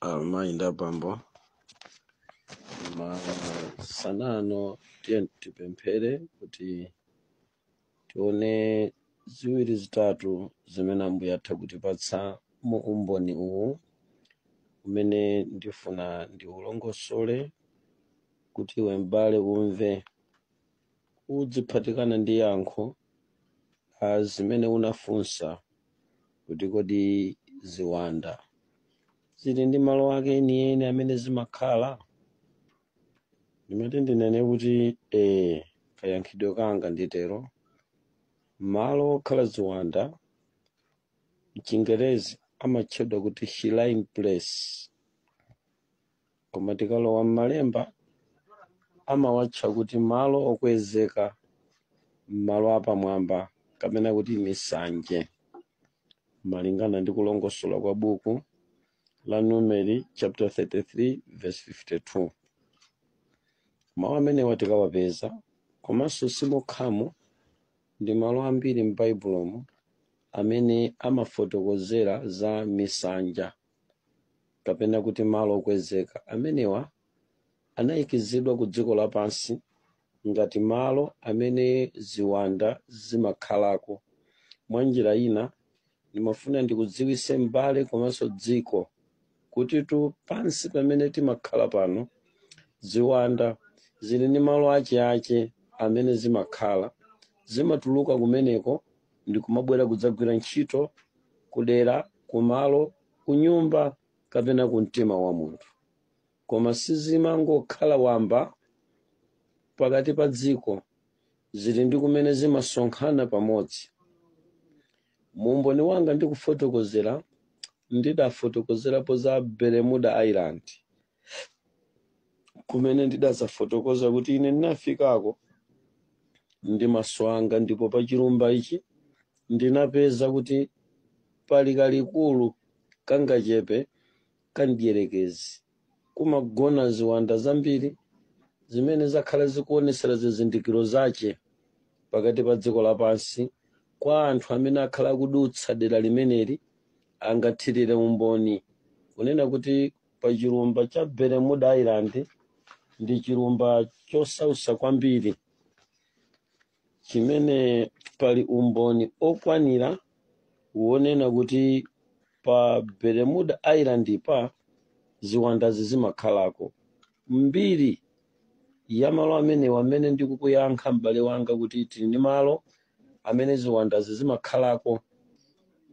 amayi ndi abambo masana ano tiye tipemphere kuti tione ziwiri zitatu zimene ambuye atha kutipatsa mu umboni uwu umene ndifuna ndiulongosole kuti iwe m'bale umve udziphatikana ndi yankho la zimene unafunsa kuti kodi ziwanda zili ndi malo ake enieni amene zimakhala ndimati ndinene kuti ee kayankhidwe kanga nditero malo okhala ziwanda mchingerezi amatchedwa kuti shrine place koma tikalowa m'malemba amawatcha kuti malo okwezeka malo apamwamba kapena kuti misanje malingana ndi kulongosola kwa buku la numeri chapter 33 verse 52 mawu amenewa tikawapeza komanso simokhamo ndi malo ambiri m'baibulomu amene amafotokozera za misanja kapena kuti malo okwezeka amenewa anayikizidwa ku dziko lapansi ngati malo amene ziwanda zimakhalako mwa njira ina ndimafuna ndikudziwise m'bale komanso dziko kutitu pansi pamene timakhala pano ziwanda zili ndi malo acheache amene zimakhala zimatuluka kumeneko ndikumabwera kudzagwira ntchito kudera kumalo kunyumba kapena ku mtima wa munthu koma sizimangokhala wamba pakati pa dziko zili ndi kumene zimasonkhana pamodzi mu umboni wanga ndikufotokozera ndidafotokozerapo za bermuda island kumene ndidadzafotokoza kuti ine ndinafikako ndi maso anga ndipo pa chilumba ichi ndinapeza kuti pali kalikulu kangachepe kamdyerekezi kumagona ziwanda zambiri zimene zakhala zikuonetsera zizindikiro zache pakati pa dziko lapansi kwa anthu amene akhala akudutsa dera limeneli angathirire umboni kunena kuti pa chilumba cha bermuda island ndi chilumba chosausa kwambiri chimene pali umboni okwanira wonena kuti pa bermuda island pa ziwandazi zimakhalako mbiri ya malo amenewa amene ndikukuyankha m'bale wanga kuti tili ndi malo amene ziwandazi zimakhalako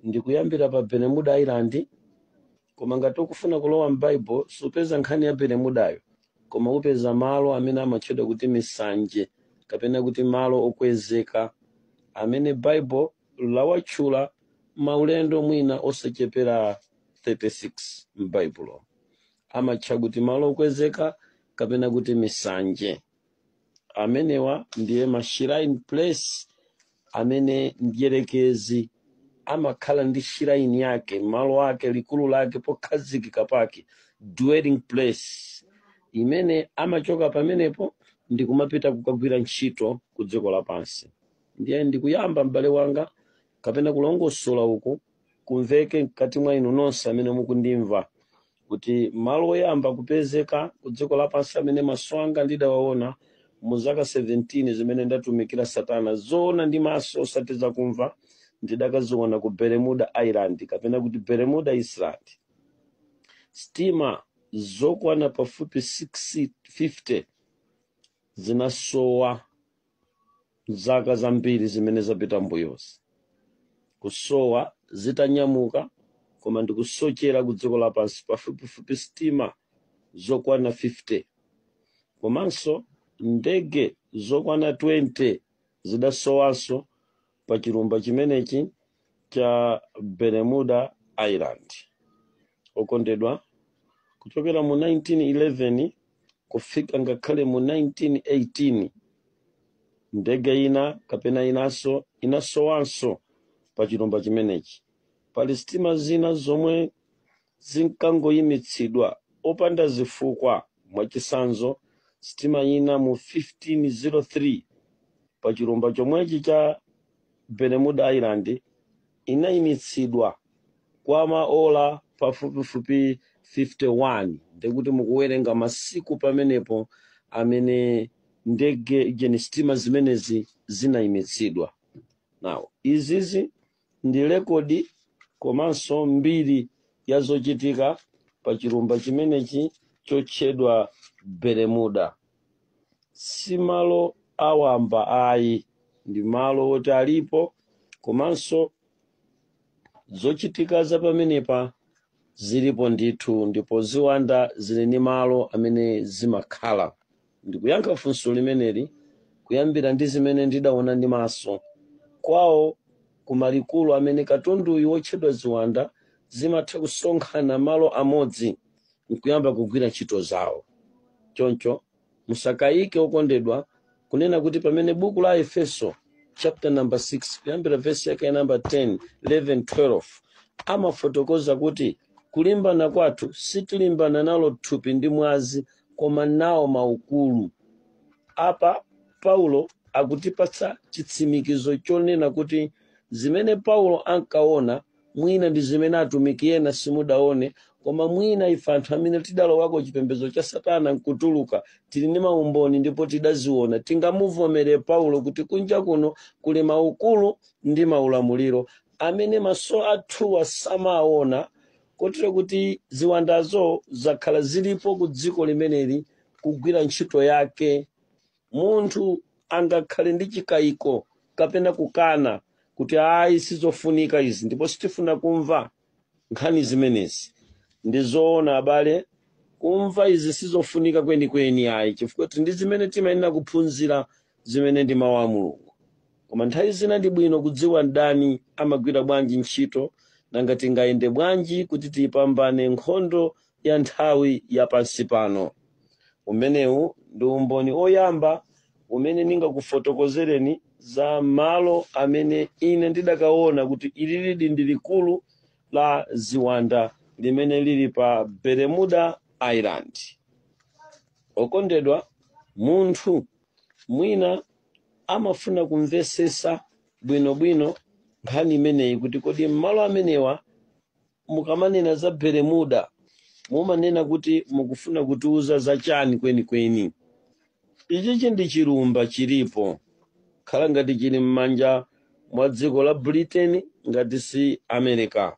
ndikuyambira pa bermuda island koma ngati ukufuna kulowa m'bible supeza nkhani ya bermudayo koma upeza malo amene amatchedwa kuti misanje kapena kuti malo okwezeka amene bible lawatchula maulendo mwina osachepera 36 m'baibulo amatcha kuti malo okwezeka kapena kuti misanje amenewa ndiye ma shrine place amene mdyerekezi amakhala ndi shrine yake malo ake likulu lake pokhazikika pake dwelling place imene amachoka pamenepo ndi kumapita kukagwira ntchito ku dziko lapansi ndiye ndikuyamba m'bale wanga kapena kulongosola uku kumveke mkati mwa inu nonse amene mukundimva kuti malo oyamba kupezeka ku dziko lapansi amene maso anga ndidawaona mu zaka 17 zimene ndatumikira satana zoona ndi maso osati zakumva ndidakaziona ku bermuda island kapena kuti bermuda island sitima zokwana pafupi 650 zinasowa zaka zambiri zimene zapita mbuyozi kusowa zitanyamuka koma ndikusochera ku dziko lapansi pafupifupi sitima zokwana 50 komanso ndege zokwana 20 zidasowanso pa chilumba chimenechi cha Bermuda Island. Okondedwa, kuchokera mu 1911 kufika ngakhale mu 1918 ndege ina kapena inanso inasowanso pa chilumba chimenechi. Pali sitima zina zomwe zinkangoyimitsidwa popanda zifukwa, mwachitsanzo, sitima ina mu 1503 pa chilumba chomwechi cha Bermuda Island inayimitsidwa kwa maola pafupifupi 51 ndiye kuti mukuwerenga masiku pamenepo amene ndege jeni sitima zimenezi zinayimitsidwa now izizi ndi rekodi komanso mbiri ya zochitika pa chilumba chimenechi chotchedwa bermuda si malo awamba ayi ndi malo oti alipo komanso zochitika za pamenepa Zilipo ndithu, ndipo ziwanda zili ndi malo amene zimakhala. Ndikuyankha funso limeneli kuyambira ndi zimene ndidaona ndi maso. Kwawo ku malikulu amene katunduyu wotchedwa ziwanda zimatha kusonkhana malo amodzi nkuyamba kugwira ntchito zawo. Choncho musakayike okondedwa kunena kuti pamene buku la efeso chapter number 6 kuyambira vesi yake number 10 11 12 amafotokoza kuti kulimbana kwathu sitilimbana nalo thupi ndi mwazi koma nawo maukulu apa paulo akutipatsa chitsimikizo chonena kuti zimene paulo ankaona mwina ndi zimene atumiki ena simudaone koma mwina ife anthu amene tidalowako chipembedzo cha satana nkutuluka tili ndi maumboni ndipo tidaziona tingamuvomere paulo kuti kunja kuno kuli maukulu ndi maulamuliro amene maso athuwa samaona kotero kuti ziwandazo zakhala zilipo ku dziko limeneli kugwira ntchito yake Munthu angakhale ndi chikaiko kapena kukana kuti ayi sizofunika izi ndipo sitifuna kumva nkhani zimenezi. Ndi zoona abale, kumva izi sizofunika kwenikweni ayi chifukwa tili ndi zimene timayenera kuphunzira zimene ndi mau a Mulungu. Koma nthawi zina ndi bwino kudziwa mdani amagwira bwanji ntchito nanga tingayende bwanji kuti tiipambane nkhondo ya nthawi ya pansi pano. Umenewu ndi umboni oyamba umene ndingakufotokozereni za malo amene ine ndidakaona kuti ili lidi ndi likulu la ziwanda limene lili pa Bermuda Island. Okondedwa, munthu mwina amafuna kumvesesa bwinobwino nkhani imeneyi kuti kodi m'malo amenewa mukamanena za beremuda mumanena kuti mukufuna kutiuza za chani kwenikweni ichichi ndi chilumba chilipo khala ngati chili m'manja mwa dziko la britain ngati si america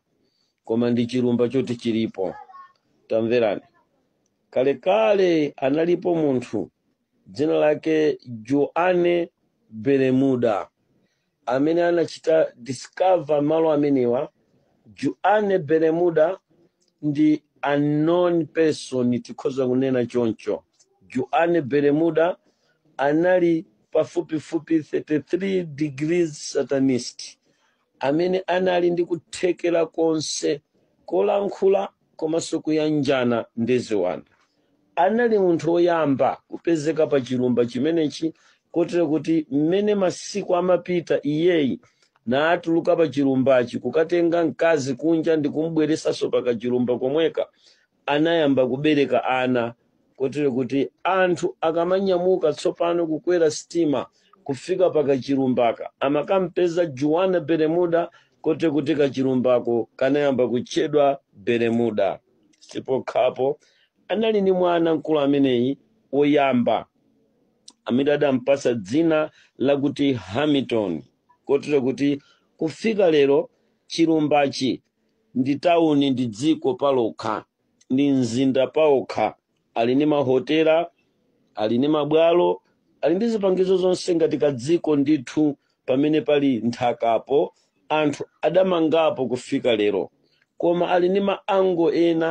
koma ndi chilumba choti chilipo tamverani kalekale analipo munthu dzina lake juane beremuda amene anachita discover malo amenewa Juane Bermuda ndi a known person tikhoza kunena choncho Juane Bermuda anali pafupifupi 33 degrees satanist amene anali ndi kuthekera konse kolankhula komanso kuyanjana ndi ziwanda anali munthu woyamba kupezeka pa chilumba chimenechi kotero kuti mmene masiku amapita iyeyi natuluka pa chilumbachi kukatenga mkazi kunja ndi kumubweretsanso pa kachilumba komweka anayamba kubereka ana kotero kuti anthu akamanyamuka tsopano kukwera sitima kufika pa kachilumbaka amakampeza juan bermuda kotero kuti kachilumbako kanayamba kutchedwa bermuda si pokhapo anali ndi mwana wamkulu ameneyi woyamba amene adampasa dzina lakuti hamilton kotero kuti kufika lero chilumbachi ndi tawuni ndi dziko palokha ndi mzinda paokha ali ndi mahotela ali ndi mabwalo ali ndi zipangizo zonse ngati kadziko ndithu pamene pali nthakapo anthu adamangapo kufika lero koma ali ndi maango ena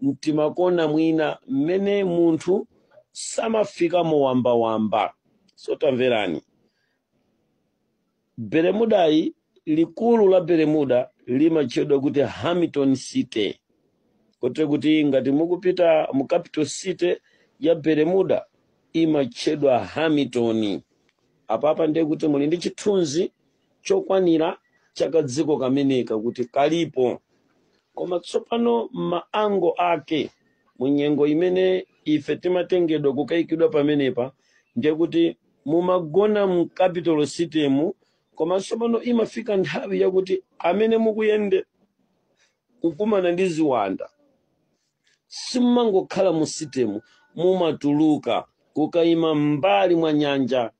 mtimakona mwina mmene munthu samafikamo mwawambawamba so tamverani bermudayi likulu la bermuda limatchedwa kuti hamilton city kotero kuti ngati mukupita mu capital city ya bermuda imatchedwa hamilton apapa ndiye kuti muli ndi chithunzi chokwanira cha kadziko kameneka kuti kalipo koma tsopano maango ake mu nyengo imene ife timatengedwa kukayikidwa pamenepa ndiye kuti mumagona mu capital citymu koma tsopano imafika nthawi yakuti amene mukuyenda kukumana ndi ziwanda simumangokhala mu citymu mumatuluka kukayima m'mbali mwa nyanja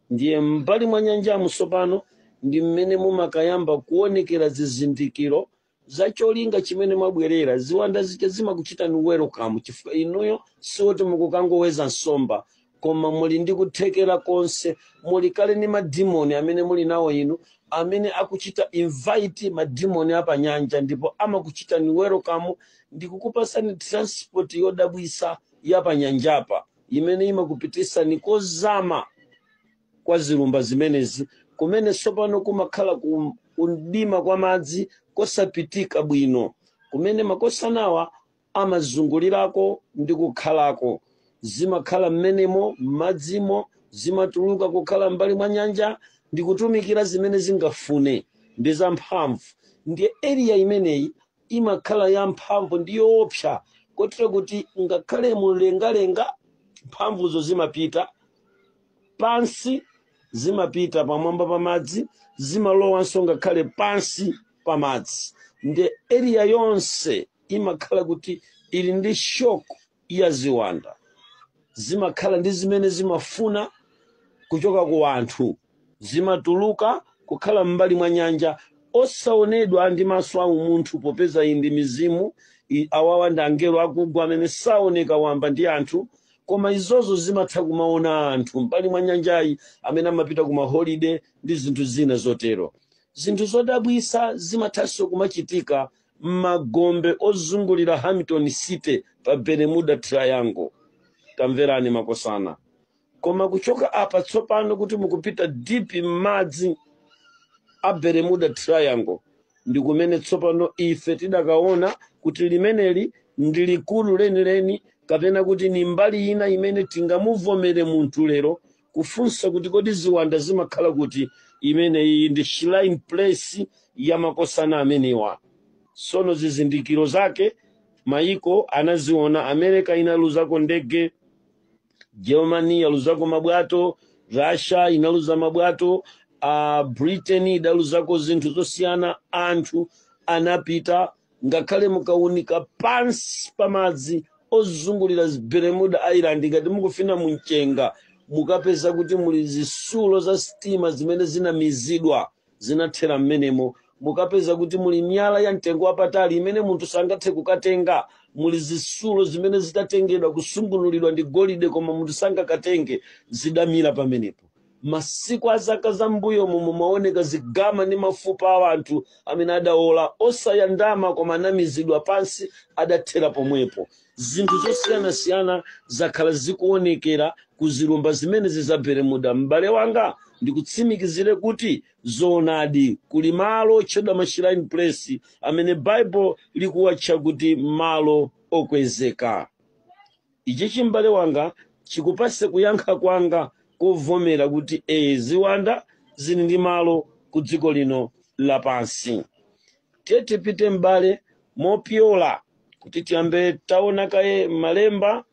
ndiye m'mbali mwa nyanjamu tsopano ndi mmene mumakayamba kuonekera zizindikiro za cholinga chimene mwabwerera ziwanda zija zimakuchitani welcome chifukwa inuyo sikuti mukukangoweza nsomba koma muli ndi kuthekera konse muli kale ndi madimoni amene muli nawo inu amene akuchita invite madimoni apanyanja ndipo amakuchitani welcome ndi kukupatsani transport yodabwisa yapanyanjapa imene imakupititsani kozama kwa zilumba zimenezi, kumene tsopano kumakhala kumdima kwa madzi kosapitika bwino, kumene makosana awa amazungulirako ndi kukhalako. Zimakhala mmenemo, m'madzimo, zimatuluka kukhala m'mbali mwa nyanja ndi kutumikira zimene zingafune. Ndi zamphamvu. Ndiye area imeneyi imakhala yamphamvu ndi yoopsa kotero kuti ngakhale mumlengalenga mphamvuzo zimapita pansi zimapita pamwamba pa madzi zimalowanso ngakhale pansi pa madzi nde area yonse imakhala kuti ili ndi shock ya ziwanda zimakhala ndi zimene zimafuna kuchoka ku anthu zimatuluka kukhala m'mbali mwa nyanja osaonedwa ndi maso a umunthu popeza iyi ndi mizimu i- awawa ndi angelo akugwa amene saoneka wamba ndi anthu koma izozo zimatha kumaona anthu mbali mwa nyanjayi amene amapita ku maholiday ndi zinthu zina zotero zinthu zodabwisa zimathanso kumachitika m'magombe ozungulira hamilton city pa bermuda triangle tamverani makosana koma kuchoka apa tsopano kuti mukupita deep m'madzi a bermuda triangle ndi kumene tsopano ife tidakaona kuti limeneli ndi likulu lenileni kapena kuti ni mbali ina imene tingamuvomere munthu lero kufunsa kuti kodi ziwanda zimakhala kuti imene iyi ndi shrine place ya makosana amenewa sono zizindikiro zake maiko anaziona america inaluzako ndege germany inaluzako mabwato russia inaluza mabwato uh, britain idaluzako zinthu zosiyana anthu anapita ngakhale mukaunika pansi pamadzi ozungulira bermuda island ngati mukufuna mumchenga mukapeza kuti muli zisulo za sitima zimene zinamizidwa zinathera mmenemo mukapeza kuti muli miyala ya mtengo wapatali imene munthu sangathe kukatenga muli zisulo zimene zitatengedwa kusungunulidwa ndi golide koma munthu sangakatenge zidamira pamenepo masiku a zaka za mbuyomo mumaoneka zigaza ndi mafupa a anthu amene adaola osayandama koma anamizidwa pansi adathera pomwepo zinthu zosiyanasiyana zakhala zikuonekera ku zilumba zimenezi za bermuda m'bale wanga ndikutsimikizire kuti zoonadi kuli malo otchedwa mashrine place amene bible likuwatcha kuti malo okwezeka ichichi m'bale wanga chikupase kuyankha kwanga kovomera kuti ee ziwanda zili ndi malo ku dziko lino lapansi tiye tipite m'bale mopyola kuti tiyambe taona kaye malemba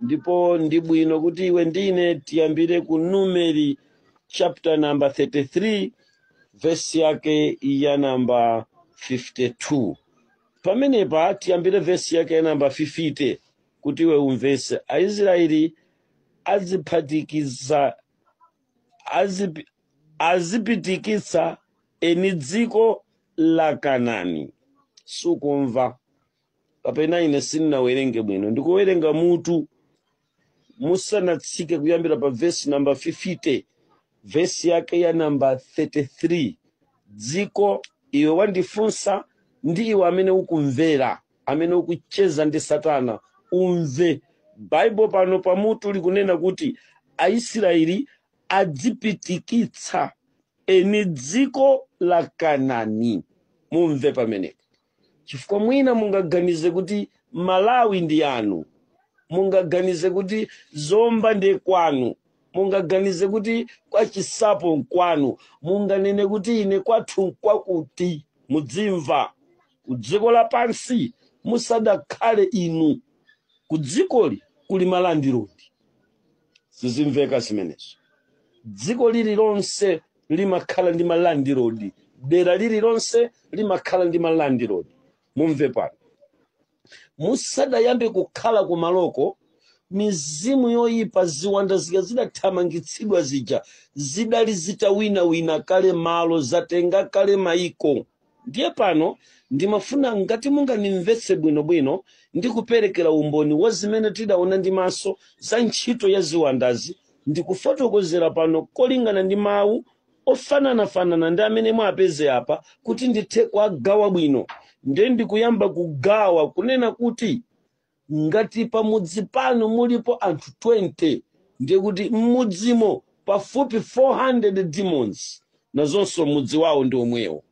ndipo ndi bwino kuti iwe ndine tiyambire ku numeri chapter number 33 vesi yake ya namba 52 pamenepa tiyambire vesi yake ya namba 50 kuti iwe umvese aisraeli aziphatikiza azipi- azipitikitsa eni dziko la kanani sukumva kapena ine sindinawerenge bwino ndikuwerenga mutu musanatsike kuyambira pa vesi namba 50 vesi yake ya namba 33 dziko iwe wandifunsa ndi iwe amene ukumvera amene ukucheza ndi satana umve baibo pano pamutu likunena kuti aisiraeli adzipitikitsa eni dziko la Kanani. Mumve pamenepo, chifukwa mwina mungaganize kuti Malawi ndi yanu, mungaganize kuti Zomba ndiye kwanu, mungaganize kuti kwa Chisapo nkwanu, munganene kuti ine kwathu nkwakuti. Mudzimva ku dziko lapansi musadakhale inu, ku dzikoli kuli malandirodi. zizimveka zimenezo dziko lililonse limakhala ndi malandirodi dera lililonse limakhala ndi malandirodi mumve pano musadayambe kukhala kumaloko mizimu yoyipa ziwanda zija zidathamangitsidwa zija zidali zitawinawina kale malo zatenga kale maiko Ndiye pano ndimafuna ngati mungandimvetse bwino bwino ndi kuperekera umboni wa zimene tidaona ndi maso za ntchito ya ziwandazi ndi kufotokozera pano kolingana ndi mawu ofananafanana ndi amene mwapeze apa kuti ndithe kuagawa bwino. Ndiye ndikuyamba kugawa kunena kuti Ngati pamudzi panu mulipo anthu 20 ndiye kuti m'mudzimo pafupi 400 demons nazonso mudzi wawo ndi omwewo.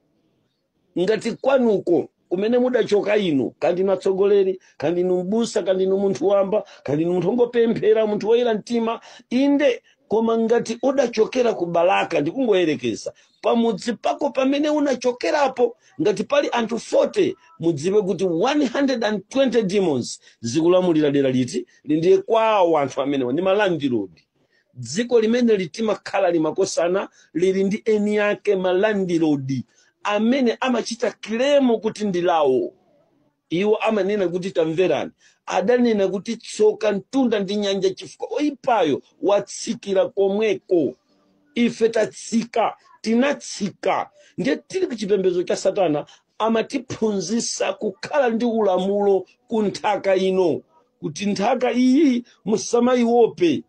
Ngati kwanuko kumene mudachoka inu kaya ndinu atsogoleri kaya ndinu mbusa kaya ndinu munthu wamba kaya ndinu munthu ongopemphera munthu woyera mtima inde koma ngati udachokera ku balaka ndikungoyerekeza pamudzi pako pamene unachokerapo ngati pali anthu 40 mudziwe kuti 120 demons zikulamulira dera lililonse ndiye kwawo anthu amenewa ndi malandirodi dziko limene timakhala li makosana lili ndi eni ake malandirodi amene amachita kilemo kuti ndi lawo iwo amanena kuti tamverani adanena kuti tsoka mtunda ndi nyanja chifukwa oyipayo watsikira komweko ife tatsika tinatsika ndiye tili ku chipembedzo cha satana amatiphunzitsa kukhala ndi ulamulo ku nthaka ino kuti nthaka iyi musamayiope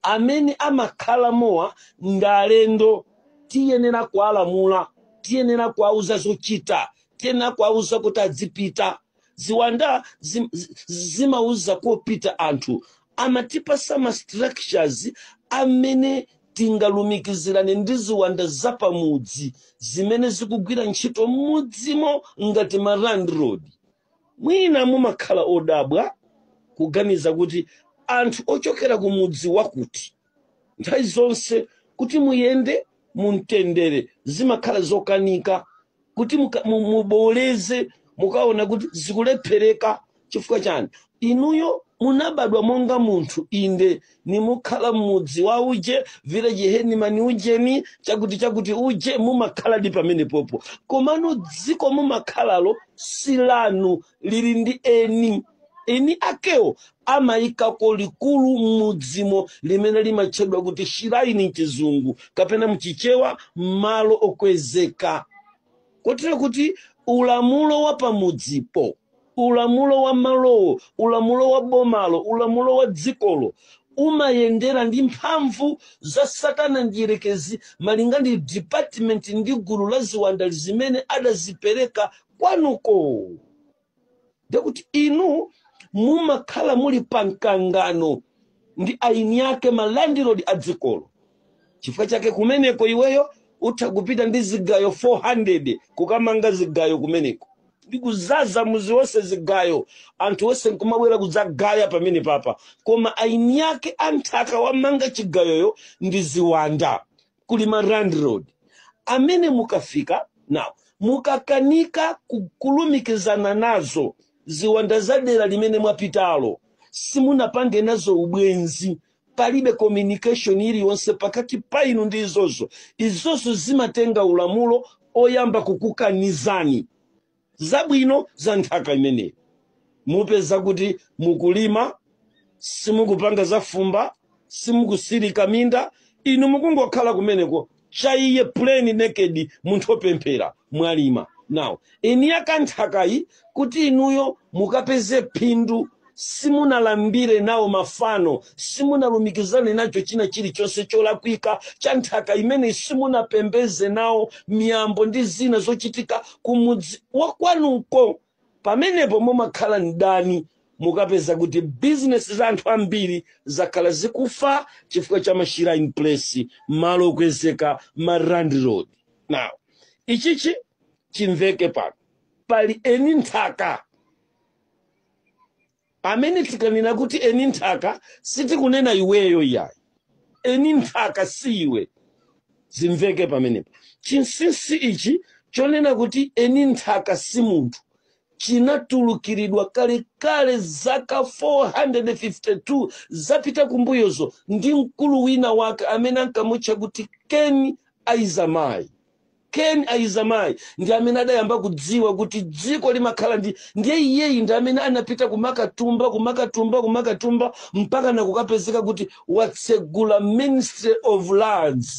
amene amakhala mwa anthu ndi alendo tiyenera kuwalamula tiyenera kuwauza zochita tiyenera kuwauza kuti adzipita ziwanda zim- zi- zimauza kopita anthu amatipasa ma structures amene tingalumikizirane ndi ziwanda zapamudzi zimene zikugwira ntchito m'mudzimo ngati ma landlord Mwina mumakhala odabwa kuganiza kuti anthu ochokera ku mudzi wakuti, nthawi zonse kuti muyende mu mtendere zimakhala zokanika, kuti muka- mu- mubooleze mukaona kuti zikulephereka chifukwa chani? Inuyo munabadwa monga munthu, inde, nimukhala m'mudzi wa uje, village hedimani ujeni, chakuti chakuti uje, mumakhaladi pamenepopo. Komano dziko mumakhalalo si lanu, lili ndi eni. Eni akewo amaikako likulu m'mudzimo limene limatchedwa kuti shiraini m'Chizungu kapena m'Chichewa malo okwezeka, kotero kuti ulamulo wa pamudzipo, ulamulo wa malowo ulamulo wa bomalo ulamulo wa dzikolo umayendera ndi mphamvu za satana mdierekezi malinga ndi department ndi gulu la ziwanda zimene adazipereka kwanuko ndekuti inu mumakhala muli pa mkangano ndi eni ake malandilodi a dzikolo chifukwa chake kumeneko iweyo utha kupita ndi zigayo 400 kukamanga zigayo kumeneko ndi kuzaza mudzi wonse zigayo anthu onse nkumabwera kudzagaya pamene papa koma eni ake a nthaka wamanga chigayoyo ndi ziwanda kuli ma landlord amene mukafika nawo mukakanika ku- kulumikizana nazo ziwanda za dera limene mwapitalo simunapange nazo ubwenzi palibe communication iliyonse pakati pa inu ndi izozo izozo zimatenga ulamulo oyamba kukukanizani zabwino za nthaka imeneyi mupeza kuti mukulima simukupanga zafumba simukusirika minda inu mukungokhala kumeneko cha iye plain naked munthu opemphera mwalima now eni ake a nthakayi kuti inuyo mukapeze phindu simunalambire nawo mafano simunalumikizane nacho china chilichonse cholakwika cha nthaka imeneyi simunapembedze nawo miyambo ndi zina zochitika kumudzi wakwanuko Pamenepo mumakhala mdani mukapeza kuti business za anthu ambiri zakhala zikufa chifukwa cha ma shrine place, malo okwezeka, ma landlord. Now, ichichi chimveke pano. Pali eni nthaka pamene tikanena kuti eni nthaka sitikunena iweyo iyayi eni nthaka si iwe zimveke pamenepo chinsinsi ichi chonena kuti eni nthaka si munthu chinatulukiridwa kalekale zaka 452 zapita kumbuyozo ndi mkulu wina wake amene ankamutcha kuti ken aizamai Ken Aizamai ndi amene adayamba kudziwa kuti dziko limakhala ndi ndiye iyeyi ndi amene anapita kumakatumba kumakatumba kumakatumba mpaka nakukapezeka kuti watsegula Ministry of Lands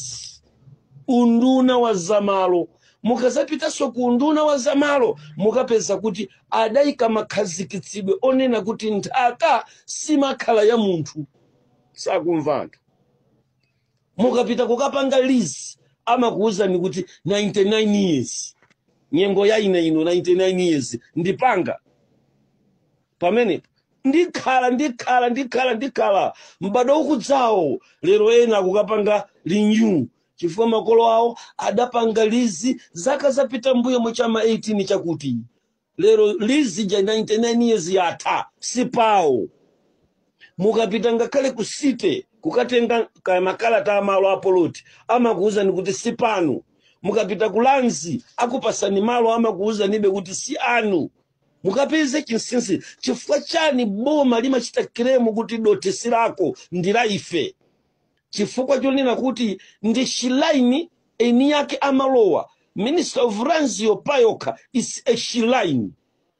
unduna wa zamalo mukazapitanso ku unduna wa zamalo mukapeza kuti adayika makhazikitsidwe onena kuti nthaka simakhala ya munthu sakumva anthu mukapita kukapanga lease amakuwuzani kuti 99 years nyengo ya ine ino 99 years ndipanga pamene ndikhala ndikhala ndikhala ndikhala m'bado ukudzawo lero ena akukapanga renew chifukwa makolo awo adapanga lease zaka zapita mbuyo muchama 18 chakuti lero lease ija 99 years yatha sipawo mukapita ngakhale ku city kukatenga ka- makalata a malo a poloti amakuwuzani kuti si panu mukapita ku lands akupasani malo amakuwuzanibe kuti si anu mukapeze chinsinsi chifukwa chani boma limachita claim kuti dothi si lako ndi la ife chifukwa chonena kuti ndi shrine eni yake amalowa ministry of lands yo payokha is a shrine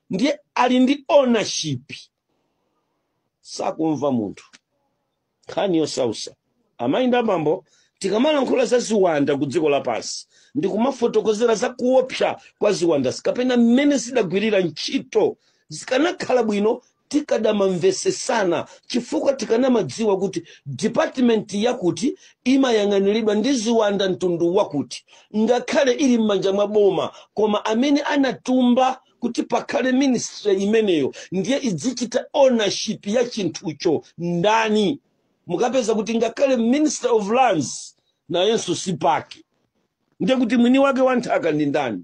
ndiye ali ndi ownership sakumva munthu nkhani yosausa amayi ndi abambo tikamalankhula za ziwanda ku dziko lapansi ndi kumafotokozera za kuopsa kwa ziwanda kapena mmene zidagwirira ntchito zikanakhala bwino tikadamamvesesana chifukwa tikanamadziwa kuti department yakuti imayang'aniridwa ndi ziwanda mtundu wakuti ngakhale ili m'manja mwa boma koma amene anatumba kuti pakhale ministry imeneyo ndiye idzichita ownership ya chinthucho ndani mukapeza kuti ngakhale minister of lands nayenso si pake ndiye kuti mwini wake wa nthaka ndi ndani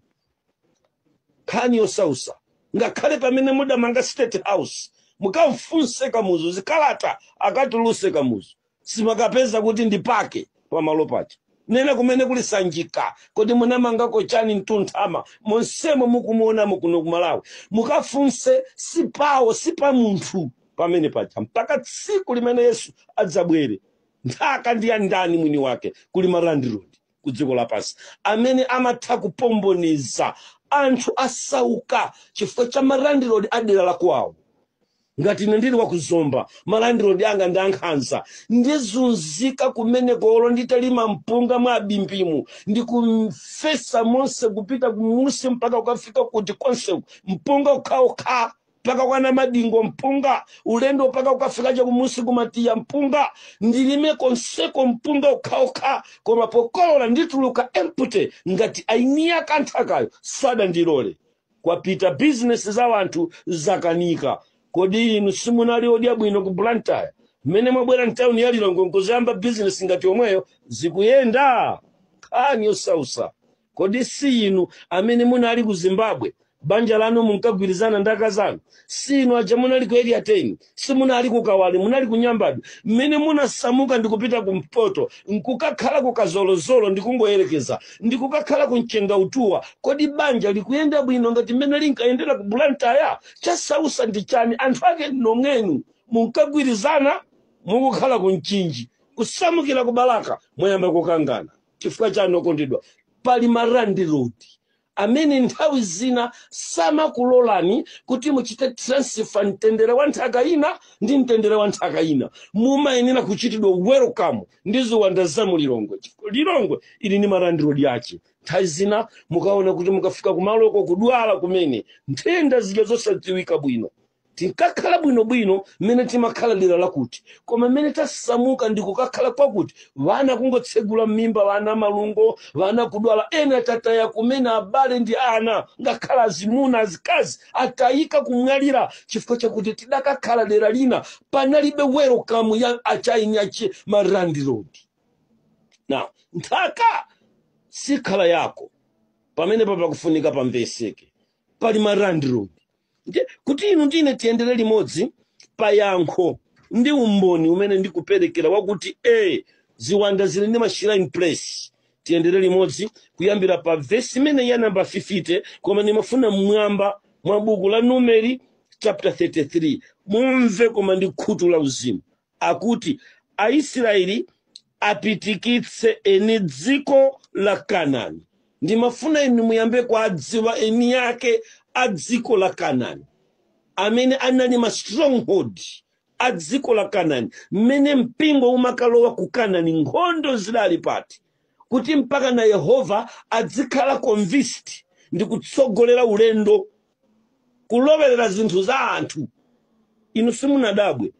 nkhani yosausa ngakhale pamene mudamanga state house mukamfunse kamuzu zikalata akatuluse kamuzu simukapeza kuti ndi pake pamalo paja nena kumene kuli sanjika kodi munamangako chani mtunthama monsemo mukumuonamo kuno kumalawi mukafunse si pawo si pa munthu pamene paja mpaka tsiku limene yesu adzabwere nthaka ndi ya ndani mwini wake kuli ma landlord ku dziko lapansi amene amatha kupomboniza anthu asauka chifukwa cha malandilodi a dera lakwawo ngati ine ndili wakuzomba malandilodi anga ndi ankhanza ndizunzika kumeneko olo nditalima mpunga mwa bimbimu ndikumfesa monse kupita kumusi mpaka kukafika kuti konse mpunga ukhaokha mpaka kwa namadingo mpunga ulendo mpaka ukafika cha kumusi ku matiya mpunga ndilime konseko mpunga ukhaokha koma pokolola ndituluka empty ngati aeni yake a nthakayo sadandilole kwapita bizinesi za wanthu zakanika kodi inu simunali odya bwino ku blantyre mmene mwabwera mtawuni ya lilongwe nkuziyamba bizinesi ngati yomweyo zikuyenda nkhani yosausa Kodi si inu amene munali ku Zimbabwe? Banja lanu munkagwirizana ndi akazi anu? Si inu aja munali ku Area 10? Simunali ku Kawale, munali ku Nyambadwe. Mmene munasamuka ndi kupita kumpoto, n'kukakhala ku Kazolozolo ndikungoyerekeza, ndi kukakhala ku Mchengautuwa, kodi banja likuyenda bwino ngati mmene linkayendera ku Blantyre? Chasausa ndi chani? Anthu ake nomwenu munkagwirizana? Mukukhala ku Mchinji, kusamukira ku Balaka, mwayamba kukangana. Chifukwa chani okondedwa? Pali ma landlord amene nthawi zina samakulolani kuti muchite transfer mtendere wa nthaka ina ndi mtendere wa nthaka ina. Mumayenera kuchitidwa welcome ndi ziwanda za mu Lilongwe. Eya Lilongwe ili ndi ma landlord ache. Nthawi zina mukaona kuti mukafika kumaloko kudwala kumene nthenda zija zosadziwika bwino tinkakhala bwinobwino mmene timakhala dera lakuti koma mmene tasamuka ndi kukakhala kwakuti wana kungotsegula m'mimba wana malungo wana kudwala ena tataya kumene abale ndi ana ngakhale azimuna azikazi atayika kumwalira chifukwa chakuti tidakakhala dera lina panalibe welcome ya achaini ache malandilodi na nthaka sikhala yako pamenepa pakufunika pamveseke pali ma landlord Nde, kuti inu ndine tiyendere limodzi pa yankho ndi umboni umene ndikuperekera wakuti e ziwanda zili ndi ma shrine place tiyendere limodzi kuyambira pa vesi imene ya namba 50 koma ndimafuna mmwamba mwa buku la numeri chapter 33 mumve koma ndi khutu la uzimu akuti Aisiraeli apitikitse eni dziko la Kanani. Ndimafuna inu muyambe kuwadziwa eni yake a dziko la Kanani, amene anali ma stronghold a dziko la Kanani, mmene mpingo umakalowa ku Kanani, nkhondo zidali pati, kuti mpaka na Yehova adzikhala convinced ndi kutsogolera ulendo kulowerera zinthu za anthu inu simunadabwe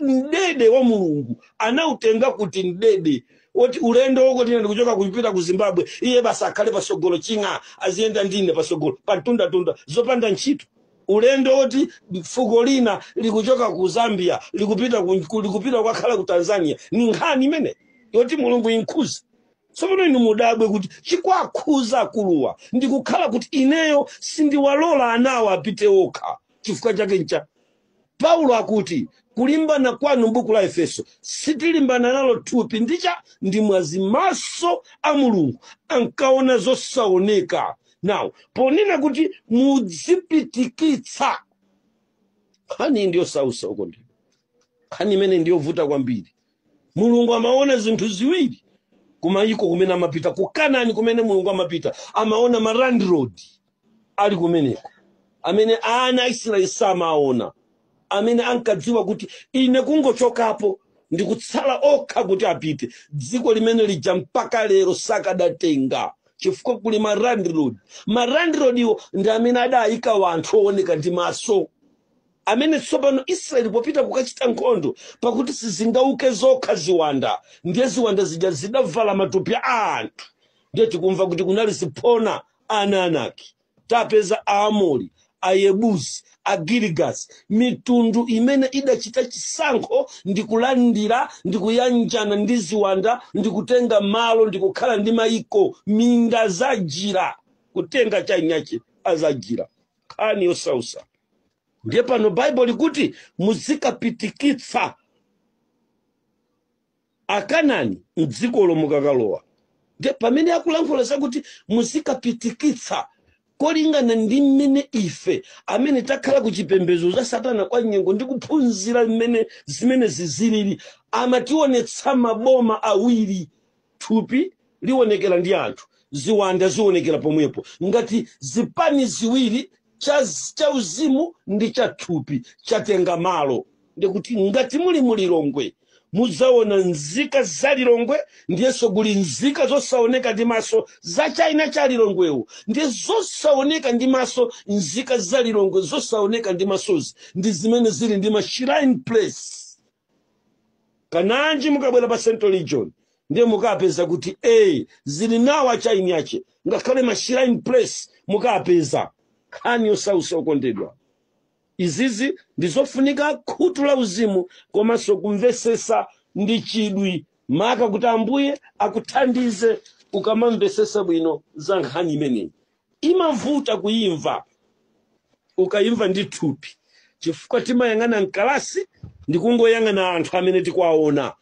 mdede wa mulungu anautenga kuti mdede woti ulendo fuko lina likuchoka kupita ku zimbabwe iye basi akhale pasogolo ching'a aziyenda ndine pasogolo pantundatunda zopanda ntchito ulendo woti fuko lina likuchoka ku zambia likupita ku- ku- likupita kukakhala ku tanzania ni nkhani imeneyi yoti mulungu inkhuze tsopano inu mudabwe kuti chikwakhuza akuluwa ndi kukhala kuti ineyo sindiwalola anawa apite okha chifukwa chake ncha paulo akuti kulimbana kwanu m'buku la efeso sitilimbana nalo thupi ndicha ndi mwazi maso a mulungu ankaona zosaoneka now ponena kuti mudzipitikitsa nkhani ndiyosausa uko ndi nkhani imene ndiyovuta kwambiri mulungu amaona zinthu ziwiri kumayiko kumene amapita ku kanani kumene mulungu amapita amaona ma landlord ali kumeneko amene ana a israeli samaona amene ankadziwa kuti ine kungochokapo ndikutsala okha kuti apite dziko limene lija mpaka lero sakadatenga chifukwa kuli ma landlord ma landlord iwo ndi amene adayika wanthu owoneka ndi maso amene tsopano Israeli popita kukachita nkhondo, pakuti sizingauke zokha ziwanda, ndiye ziwanda zija zidavala matupi a anthu, ndiye tikumva kuti kunali ziphona ana anaki, tapeza Aamori, Ayebusi, Agirigasi, mitundu imene idachita chisankho ndi kulandira ndi kuyanjana ndi ziwanda ndi kutenga malo ndi kukhala ndi maiko, minda zajira, kutenga chaini yache azajira. nkhani yosausa ndiye pano baibo likuti muzikapitikitsa akanani mdzikolo mukakalowa ndiye pamene akulankhula zakuti muzikapitikitsa kolingana ndi mmene ife amene takhala ku chipembedzo cha satana kwa nyengo ndi kuphunzira mmene zimenezi zilili amationetsa maboma awiri Thupi lionekera ndi anthu, ziwanda zionekera pomwepo. Ngati zipani ziwiri, cha uzimu ndi cha thupi, chatenga malo, ndiye kuti ngati muli mu Lilongwe mudzaona nzika za Lilongwe, ndiyenso kuli nzika zosaoneka ndi maso za China cha Lilongwewo, ndiye zosaoneka ndi maso, nzika za Lilongwe zosaoneka ndi masozi ndi zimene zili ndi ma shrine place. kananji mukabwera pa central region ndiye mukapeza kuti a zili nawo chaini yache ngakhale mashrine place mukapeza nkhani yosausa okondedwa izizi ndizofunika khutu la uzimu komanso kumvesesa ndi chidwi maka kuti ambuye akuthandize ukamamvesesa bwino za nkhani imeneyi imavuta kuimva ukaimva ndi thupi chifukwa timayang'ana mkalasi ndi kungoyang'ana anthu amene tikuwaona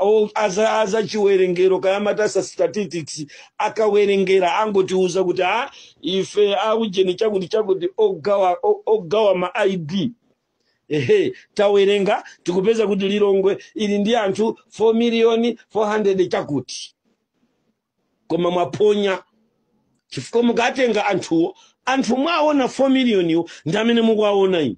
O- aza aza chiwerengero kayamatasa statistics akawerenga angotiuza kuti ah ife aujeni chakuti chakuti ogawa o- ogawa ma id ehe tawerenga tikupeza kuti lilongwe ili ndi anthu 4 miliyoni 400 chakuti koma mwaphonya chifukwa mukatenga anthuwo anthu mwaona 4 miliyoniwo ndi amene mukuwaona inu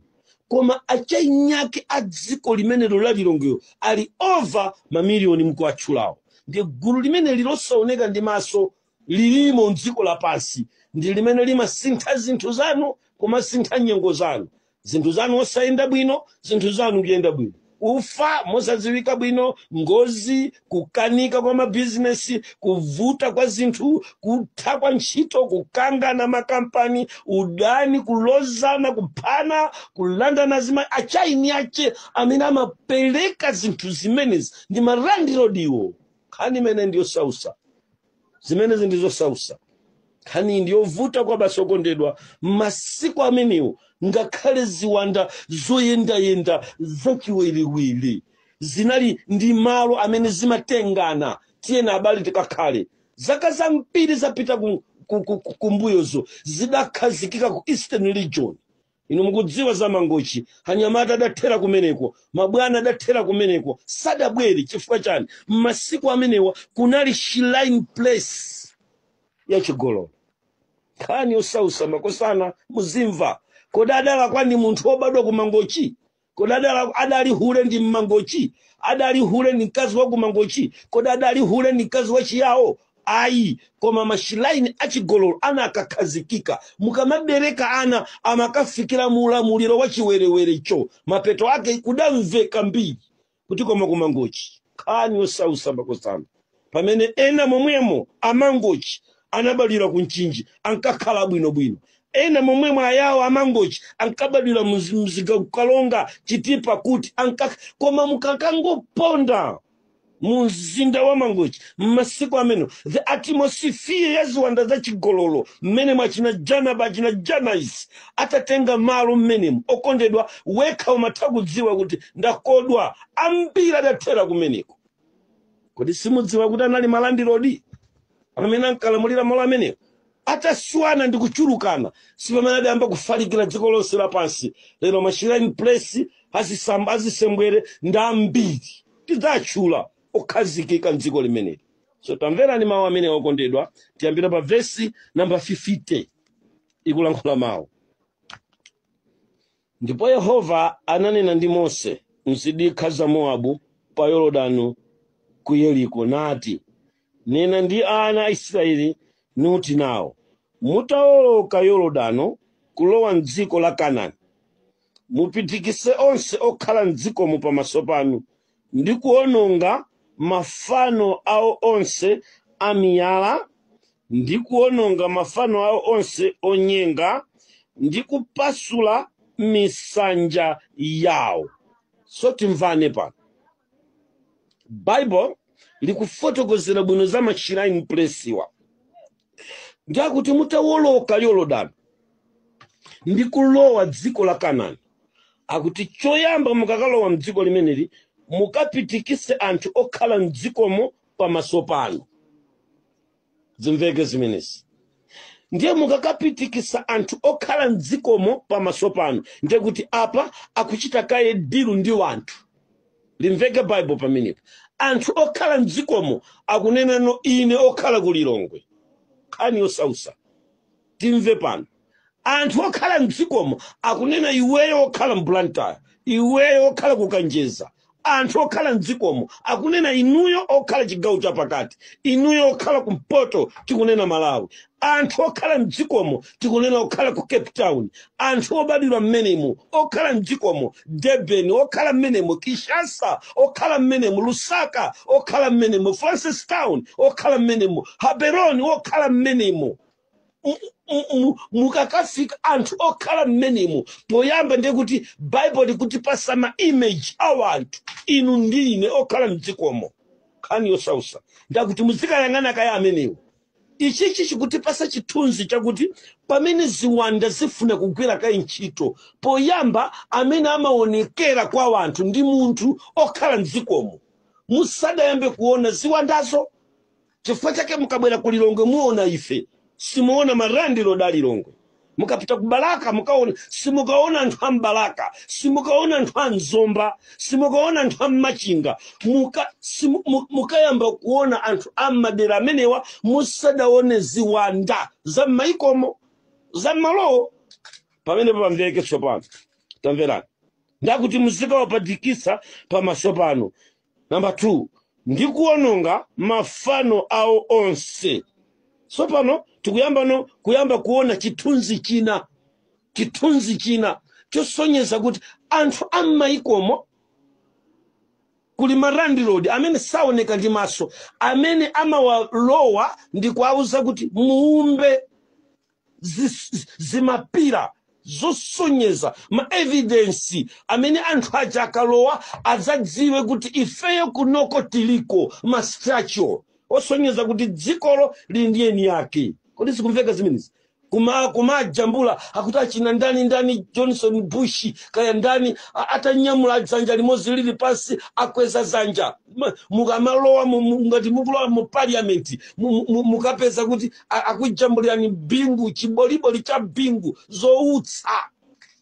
koma acheniake a dziko limenelo la lilongwelo ali over mamiliyoni mukuwatchulawo ndiye gulu limene lilosaoneka ndi maso lilimo mdziko lapansi ndi limene limasintha zinthu zanu kumasintha nyengo zanu zinthu zanu osayenda bwino zinthu zanu kuyenda bwino kufa mosadziwika bwino ngozi kukanika kwa mabizinesi kuvuta kwa zinthu kutha kwa ntchito kukangana m'makampani udani kulozana kuphana kulandana azimayi acheniake amene amapereka zinthu zimenezi ndi malandilodiwo nkhani imene ndiyosausa zimenezi ndi zosausa nkhani ndi yovuta kwabasi okondedwa masiku amenewo ngakhale ziwanda zoyendayenda zachiwerewere zinali ndi malo amene zimatengana tiyena abale tikakhale zaka zambiri zapita ku- ku- ku- ku- kumbuyozo zidakhazikika ku eastern region inu mukudziwa za mangochi anyamata adathera kumeneko mabwana adathera kumeneko sadabwerere chifukwa chani m'masiku amenewa kunali shrine place ya chigololo nkhani yosausa makosana muzimva kodi adalakwa ndi munthu wobadwa ku mangochi kodi adala- adali hule ndi mmangochi adali hule ndi mkazi wa kumangochi kodi adali hule ndi mkazi wa chiyawo ayi koma mashilaini achigololo anakakhazikika mukamabereka ana amakafikira mu ulamuliro wa chiwerewerecho mapeto ake kudamveka mbiri kuti koma ku mangochi nkhani yosausa makosana pamene ena momwemo amangochi ankabadwira ku mchinji ankakhala bwinobwino ena momwemo ayawo amangochi ankabadwira mzi- Mzimba ku Karonga chitipa kuti anka koma mukakangoponda mu mzinda wa mangochi m'masiku amene the atmosphere ya ziwanda za chigololo mmene achina jana achina janais atatenga malo mmenemo okondedwa wekha umatha kudziwa kuti ndakodwa ambiri adathera kumeneko kodi simudziwa kuti anali malandilodi amene ankalamulira malo amenewo ataswana ndi kuchulukana sipamene adayamba kufalikira dziko lonse lapansi lero mashrine place azisembwere ndi ambiri tidzatchula okhazikika mdziko limeneli so tamverani mawu amene okondedwa tiyambira pa vesi namba 50 ikulankhula mawu Ndipo Yehova ananena ndi Mose m'zidikha za Mowabu pa Yorodano ku Yeriko, nati, Nena ndi ana a Israyeli, nuti nao, Mutaoloka Yorodano kulowa m'dziko la Kanani, mupitikise onse okhala m'dzikomo pamaso panu, ndi kuwononga mafano awo onse amiyala ndi kuwononga mafano awo onse onyenga ndi kupasula misanja yawo so timvane pano bible likufotokozera bwino za mashrine place wa ndiye akuti mutawoloka yorodani ndi kulowa dziko la kanani akuti choyamba mukakalowa mdziko limeneli mukapitikise anthu okhala mdzikomo pamaso panu zimveke zimenezi ndiye mukakapitikisa anthu okhala mdzikomo pamaso panu ndiye kuti apa akuchita kaye dilu ndi wanthu limveke bible pamenepa anthu okhala mdzikomo akunena ine okhala ku lilongwe nkhani yosausa timve pano anthu okhala mdzikomo akunena iweyo okhala mblantyre iweyo okhala kukanjeza anthu okhala mdzikomo akunena inuyo okhala chigawo chapakati inuyo okhala kumpoto tikunena malawi anthu okhala mdzikomo tikunena okhala ku cape town anthu obadwira mmenemo okhala mdzikomo durban okhala mmenemo kinshasa okhala mmenemo lusaka okhala mmenemo francistown okhala mmenemo gaborone okhala mmenemo M- m- m- mukakafika anthu okhala mmenemo poyamba ndiye kuti bible likutipasa ma image a anthu inu ndi ine okhala mdzikomo nkhani yosausa ndakuti muzikayang'ana kaye amenewo Ichichi chikutipasa chithunzi chakuti pamene ziwanda zifuna kugwira kaye ntchito, poyamba amene amawonekera kwa wanthu ndi munthu okhala mdzikomo musadayambe kuwona ziwandazo. Chifukwa chake mukabwera ku Lilongwe muwona ife, simuwona ma landlord a Lilongwe. mukapita ku balaka mukaona simukaona anthu a mbalaka simukaona anthu a mzomba simukaona anthu a mmachinga muka, simu, mu- mukayamba kuona anthu a mmadera amenewa musadaone ziwanda za m'mayikomo za mmalowo pamene pamveke tsopano tamverani ndakuti muzikawapatikisa pamaso panu number 2 ndi kuononga mafano awo onse tsopano tikuyambano kuyamba kuona chithunzi china chithunzi china chosonyeza kuti anthu a m'mayikomo kuli malandilodi amene saoneka ndi maso amene amawalowa ndi kuwauza kuti muumbe zis- zimapira zosonyeza maevidensi amene anthu aja akalowa adzadziwe kuti ifeyo kunoko tiliko ma structure osonyeza kuti dzikolo lili ndi eni yake kodi zikumveka zimenezi kuma kumajambula akuti achina ndani ndani johnson bushi kaya ndani a- atanyamula dzanja limodzi lili pansi akweza dzanja Ma- mukamalowa mu- mu- ngati mukulowa mu parliament mu- mu- mukapeza kuti a- akujambulirani bingu chiboliboli cha bingu zoutsa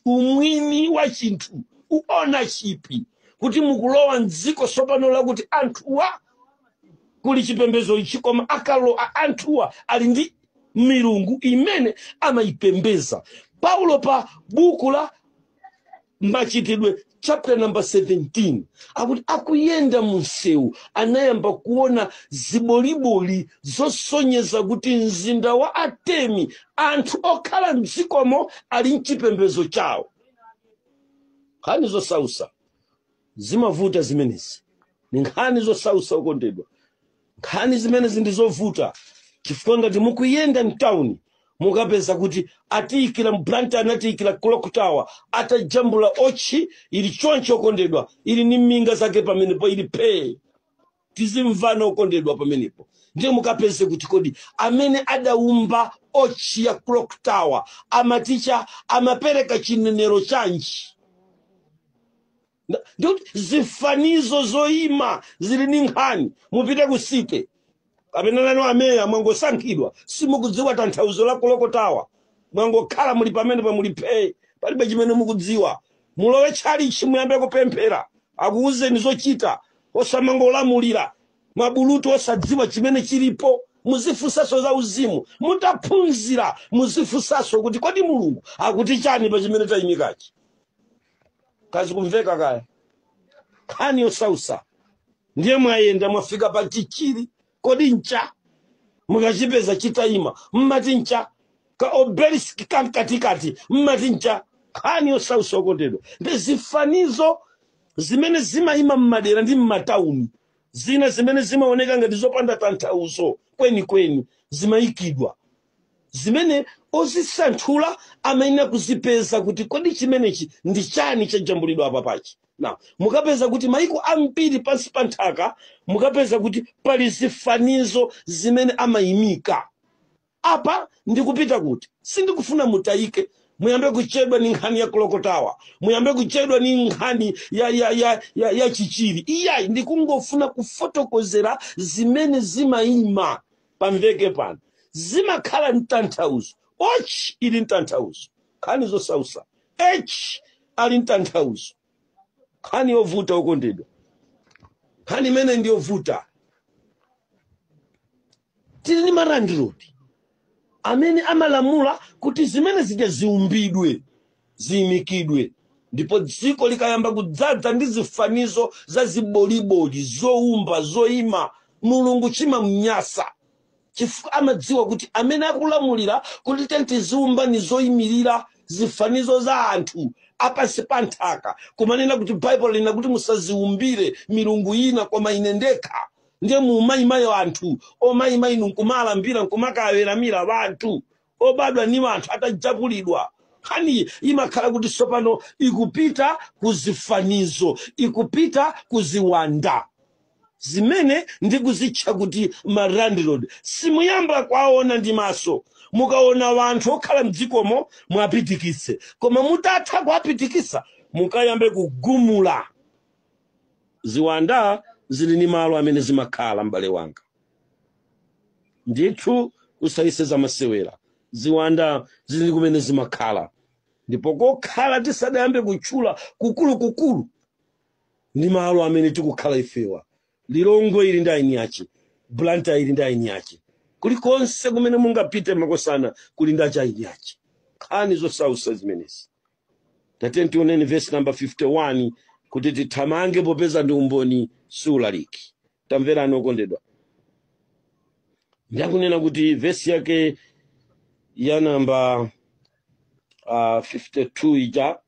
umwini wa chinthu u ownership kuti mukulowa mdziko tsopano lakuti anthuwa kuli chipembedzo ichi koma akalowa anthuwa ali ndi milungu imene amayipembeza paulo pa buku la machitidwe chapter number 17 akuti akuyenda mu msewu anayamba kuona ziboliboli zosonyeza kuti mzinda wa atene anthu okhala mdzikomo ali ndi chipembedzo chawo nkhani zosausa zimavuta zimenezi ni nkhani zosausa okondedwa nkhani zimenezi ndi zovuta chifukwa ngati mukuyenda mtawuni mukapeza kuti atiyikira mblantyre anatiyikira clock tower atajambula otchi ili choncho okondedwa ili ni minga zake pamenepo ili phee tizimvana okondedwa pamenepo ndiye mukapeze kuti kodi amene adaumba ochi ya clock tower amati chani amapereka chinenero chanji Nda- ndikuti zifanizo zoyima zili ndi nkhani mupite ku site kapena nanu ameya mwangosankhidwa simukudziwa tanthauzo la clock tower mwangokhala muli pamenepa muli phee palibe chimene mukudziwa mulowe mtchalichi muyambe kupemphera akuwuzeni zochita osamangolamulira mabulutu osadziwa chimene chilipo muzifunsaso za uzimu mutaphunzira muzifunsaso kuti kodi mulungu akuti chani pa chimene tayimikachi kaya zikumveka kaya nkhani yosausa ndiye mwayenda mwafika pa chichiri kodi ncha mukachipeza chitayima mmati ncha ka obelisk kamkatikati mmati ncha nkhani yosausa okondedwa ndi zifanizo zimene zimayima mmadera ndi mmatauni zina zimene zimaoneka ngati zopanda tanthauzo kwenikweni zimayikidwa zimene ozisanthula amayenera kuzipeza kuti kodi chimenechi ndi chani chajambulidwa apapachi na mukapeza kuti maiko ambiri pansi pa nthaka mukapeza kuti pali zifanizo zimene amayimika apa ndikupita kuti sindikufuna mutayike muyambe kuchedwa ni nkhani ya clock tower muyambe kuchedwa ni nkhani ya, ya, ya, ya, ya chichiri iyayi ndikungofuna kufotokozera zimene zimayima pamveke pano zimakhala ntanthauzo wotchi ili ntanthauzo nkhani zosausa h ali ntanthauzo nkhani yovuta okondedwa nkhani imene ndi yovuta tili ni malandilodi amene amalamula kuti zimene zija ziumbidwe ziimikidwe. Ndipo dziko likayamba kudzadza ndi zifanizo za ziboliboli, zoumba, zoima, Mulungu chimamnyansa, chifukwa amadziwa kuti amene akulamulira kuti tiyeni tiziumba ndi zoimirira zifanizo za anthu apansi pa nthaka, kumanena kuti Baibulo lina kuti musaziumbire milungu ina koma ine ndekha, ndiye muumayimayo anthu omayima inu nkumalambira nkumakaweramira wanthu obadwa ni anthu atajambulidwa nkhaniyi imakhala kuti tsopano ikupita ku zifanizo ikupita ku ziwanda zimene ndikuzitcha kuti malandlord simuyamba kwaona ndi maso mukaona wanthu okhala mdzikomo mwapitikitse koma mutatha kuwapitikisa mukayambe kugumula ziwanda zili ni malo amene zimakhala m'bale wanga ndithu usayese zamasewera ziwanda zili ndi kumene zimakhala ndipo kokhala tisadayambe kutchula kukulukukulu ndi malo amene tikukhala ifewa lilongwe ili ndi aini ache blantyre ili ndi aini ache kulikonse kumene mungapite makosana kuli ndi achaini ache nkhani zosausa zimenezi tatiyeni tioneni vesi namba 51 kuti tithamange popeza ndi umboni siulaliki tamverani okondedwa ndiye akunena kuti vesi yake ya namba uh, 52 ija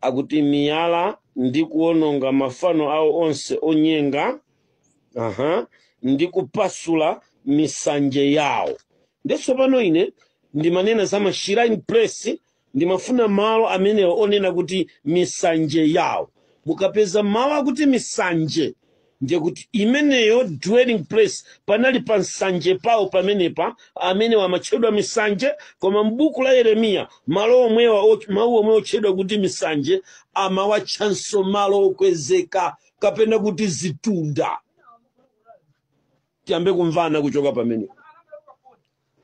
akuti miyala ndi kuononga mafano awo onse onyenga aha ndi kupasula misanje yawo nde tsopano ine ndimanena za mashrine place Ndimafuna malo amenewo onena kuti misanje yawo. Mukapeza mawu akuti misanje ndiye kuti imeneyo dwelling place panali pa msanje pawo pamenepa amenewa amatchedwa misanje koma m'buku la yeremiya malo omwewa och- mawu omwe otchedwa kuti misanje amawatchanso malo okwezeka kapena kuti zitunda tiyambe kumvana kuchoka pamenepo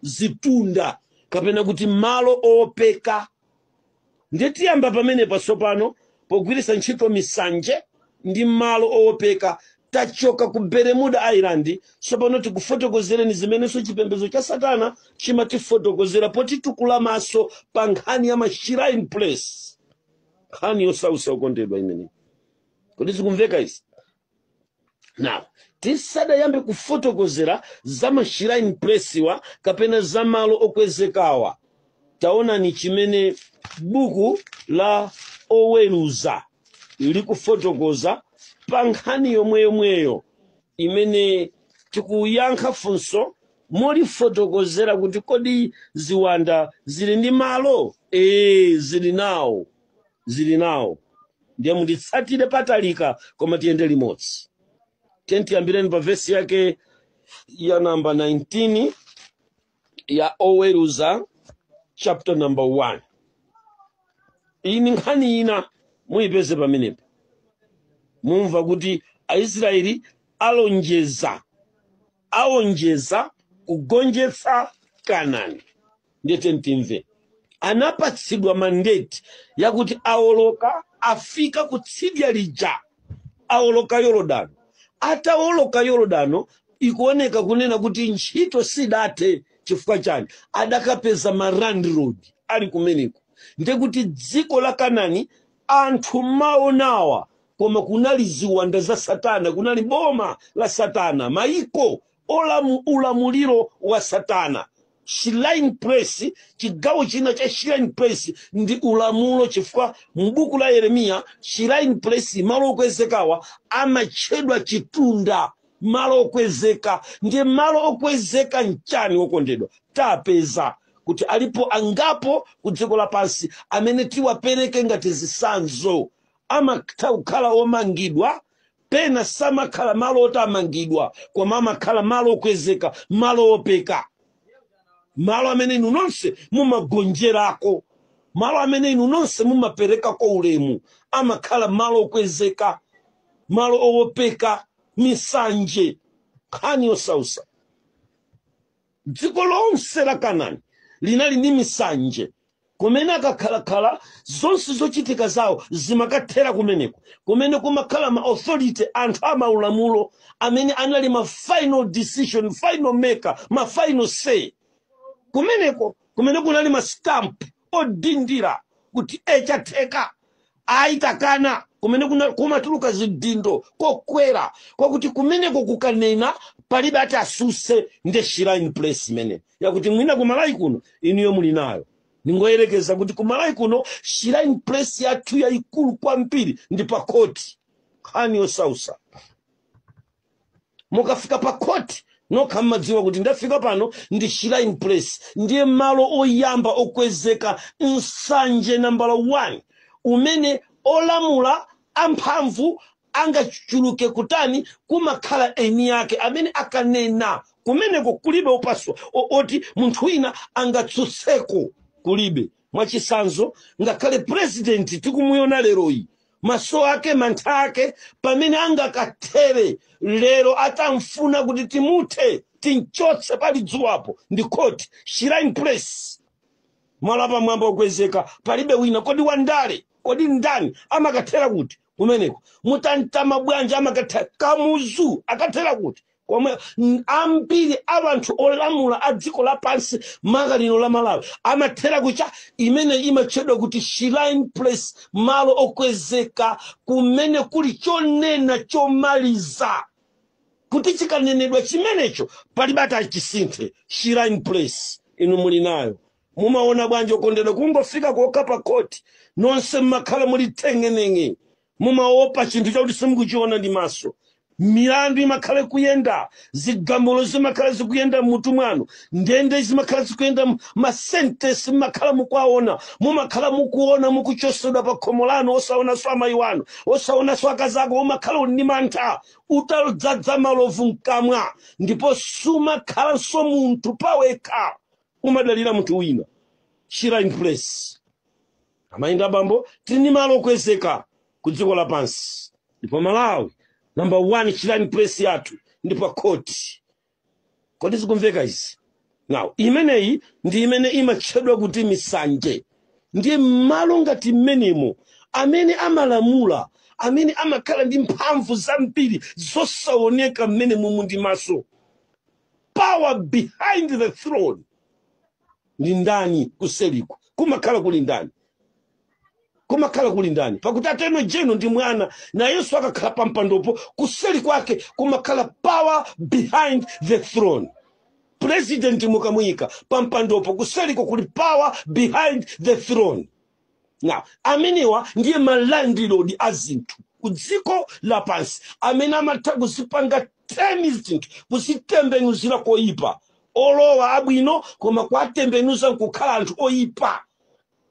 zitunda kapena kuti malo owopeka ndiye tiyamba pamenepa tsopano pogwiritsa ntchito misanje ndi malo owopeka tachoka ku bermuda island tsopano tikufotokozereni zimenenso chipembedzo cha satana chimatifotokozera potitukula maso pa nkhani ya mashrine place nkhani yosausa okondedwa imeneyi kodi zikumveka izi now tisadayambe kufotokozera za mashrine place-wa kapena za malo okwezekawa taonani chimene buku la oweruza likufotokoza pa nkhani yomwe yomweyo imene tikuyankha funso molifotokozera kuti kodi ziwanda zili ndi malo ee zili nawo zili nawo ndiye munditsatire patalika koma tiyende limodzi tiyeni tiyambireni pa vesi yake ya namba 19 ya oweruza chapter number 1 iyi ni nkhani ina muyipeze pamenepo mumva kuti aisraeli alonjeza aonjeza kugonjetsa kanani ndiye tiyeni timve anapatsidwa mandate yakuti aoloka afika kutsidya lija aoloka yorodano ataoloka yorodano ikuoneka kunena kuti ntchito sidathe chifukwa chani adakapeza ma landlord ali kumeneko ndekuti dziko la kanani anthu mumaonawa koma kunali ziwanda za satana kunali boma la satana maiko ulamuliro wa satana shrine place chigawo china cha shrine place ndi ulamulo chifukwa m'buku la Yeremiya shrine place malo okwezekawa amatchedwa chitunda malo okwezeka ndiye malo okwezeka nchani wokondedwa tapeza kuti alipo angapo ku dziko lapansi amene tiwapereke ngati zisanzo amatha kukhala omangidwa pena samakhala malo oti amangidwa koma amakhala malo okwezeka malo owopeka malo amene inu nonse mumagonjerako malo amene inu nonse mumaperekako ulemu amakhala malo okwezeka malo owopeka misanje nkhani yosausa dziko lonse la kanani linali ndi misanje kumene akakhalakhala zonse zochitika zawo zimakathera kumeneko kumene kumakhala ma authority anthu amaulamulo amene anali ma final decision final maker ma final say kumeneko kumene kunali ma stamp odindira kuti ee chatheka ayi takana kumene kuna- kumatuluka zidindo kokwera kwakuti kumeneko kukanena palibe ati asuse nde shrine place imene yakuti mwina kumalayi kuno inuyo muli nayo ndingoyerekeza kuti kumalayi kuno shrine place yathu yayikulu kwambiri ndi pa khoti nkhani yosausa mukafika pa khoti nokha mmadziwa kuti ndafika pano ndi shrine place ndiye malo oyamba okwezeka nsanje nambala 1 umene olamula amphamvu angachuluke kotani kumakhala eni yake amene akanena kumeneko kulibe opaswa o- oti munthu wina angatsutseko kulibe mwachisanzo ngakhale purezidenti tikumuyona leroyi maso ake mantha ake pamene angakathere lero atamfuna kuti timuthe timchotse pali dzuwapo ndi khoti shrine place malo apamwamba okwezeka palibe wina kodi wandale kodi ndani amakathera kuti kumeneko Mutharika bwanji amakathera kamuzu akathera kuti komwe n- ambiri a anthu olamula a dziko lapansi maka lino la malawi amathera ku- icho chimene imatchedwa kuti shrine place malo okwezeka kumene kuli chonena chomaliza kuti chikanenedwa chimenecho palibe atachisinthe shrine place inu muli nayo mumaona bwanji okondedwa kungofika kokha pa khoti nonse mmakhala muli teng'eneng'e mumaopa chinthu chakuti simukuchiona ndi maso milandu imakhala kuyenda zigamulo zimakhala zikuyenda mmutu mwanu ndende zimakhala zikuyenda mu- masentesi mumakhala mukuwaona mumakhala mukuona mukuchosedwa pa khomo lanu osaonanso amayi wanu osaonanso akazi ako umakhala uli ndi mantha utadzadza malovu mkamwa ndipo sumakhalanso munthu pawekha umadalira munthu wina shrine place amayi ndi abambo tili ndi malo okwezeka ku dziko lapansi ndipo malawi namba 1 shrine place yathu ndi pa khoti kodi zikumveka izi now imeneyi ndi imene imatchedwa kuti misanje ndiye mmalo ngati mmenemo amene amalamula amene amakhala ndi mphamvu zambiri zosaoneka mmenemomu ndi maso power behind the throne ndi ndani kuseliku kumakhala kuli ndani kumakhala kuli ndani pakuti Attorney General ndi mwana na yesu akakhala pa mpandopo kuseli kwake kumakhala power behind the throne president mukamuyika pa mpandopo kuseliko kuli power behind the throne now amenewa ndiye malandilodi a zinthu ku dziko lapansi amene amatha kuzipanga turn zinthu kuzitembenuzira koyipa olowa abwino koma kuwatembenuza nkukhala anthu oyipa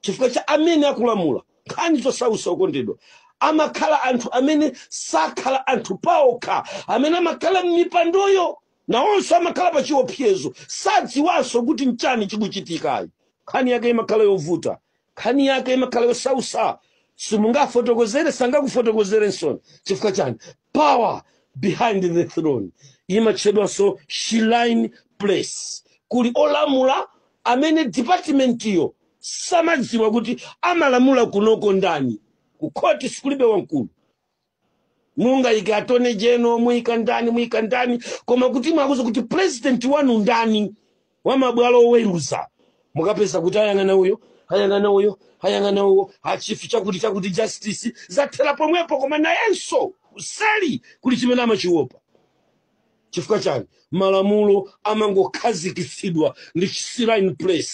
chifukwa cha amene akulamula nkhani zosausa okondedwa amakhala anthu amene sakhala anthu paokha amene amakhala m'mipandoyo Nawonso amakhala pa chiopsezo, sadziwanso kuti n'chani chikuchitika ayi. Nkhani yake imakhala yovuta. Nkhani yake imakhala yosausa. Simungafotokozere, sangakufotokozereninso. Chifukwa chani? Power behind the throne imatchedwanso Shrine Place. Kuli olamula amene department iyo samadziwa kuti amalamula kunoko ndani. Ku court sikulibe wamkulu. mungayike Attorney General muyika ndani muyika ndani koma kuti mwakuuza kuti purezidenti wanu ndani wa mabwalo oweruza mukapeza kuti ayang'ana uyo ayang'ana uyo ayang'ana uwo a Chief chakuti chakuti justice zathera pomwepo koma nayenso kuseli kuli chimene amachiwopa chifukwa chani malamulo amangokhazikitsidwa ndi chi-shrine place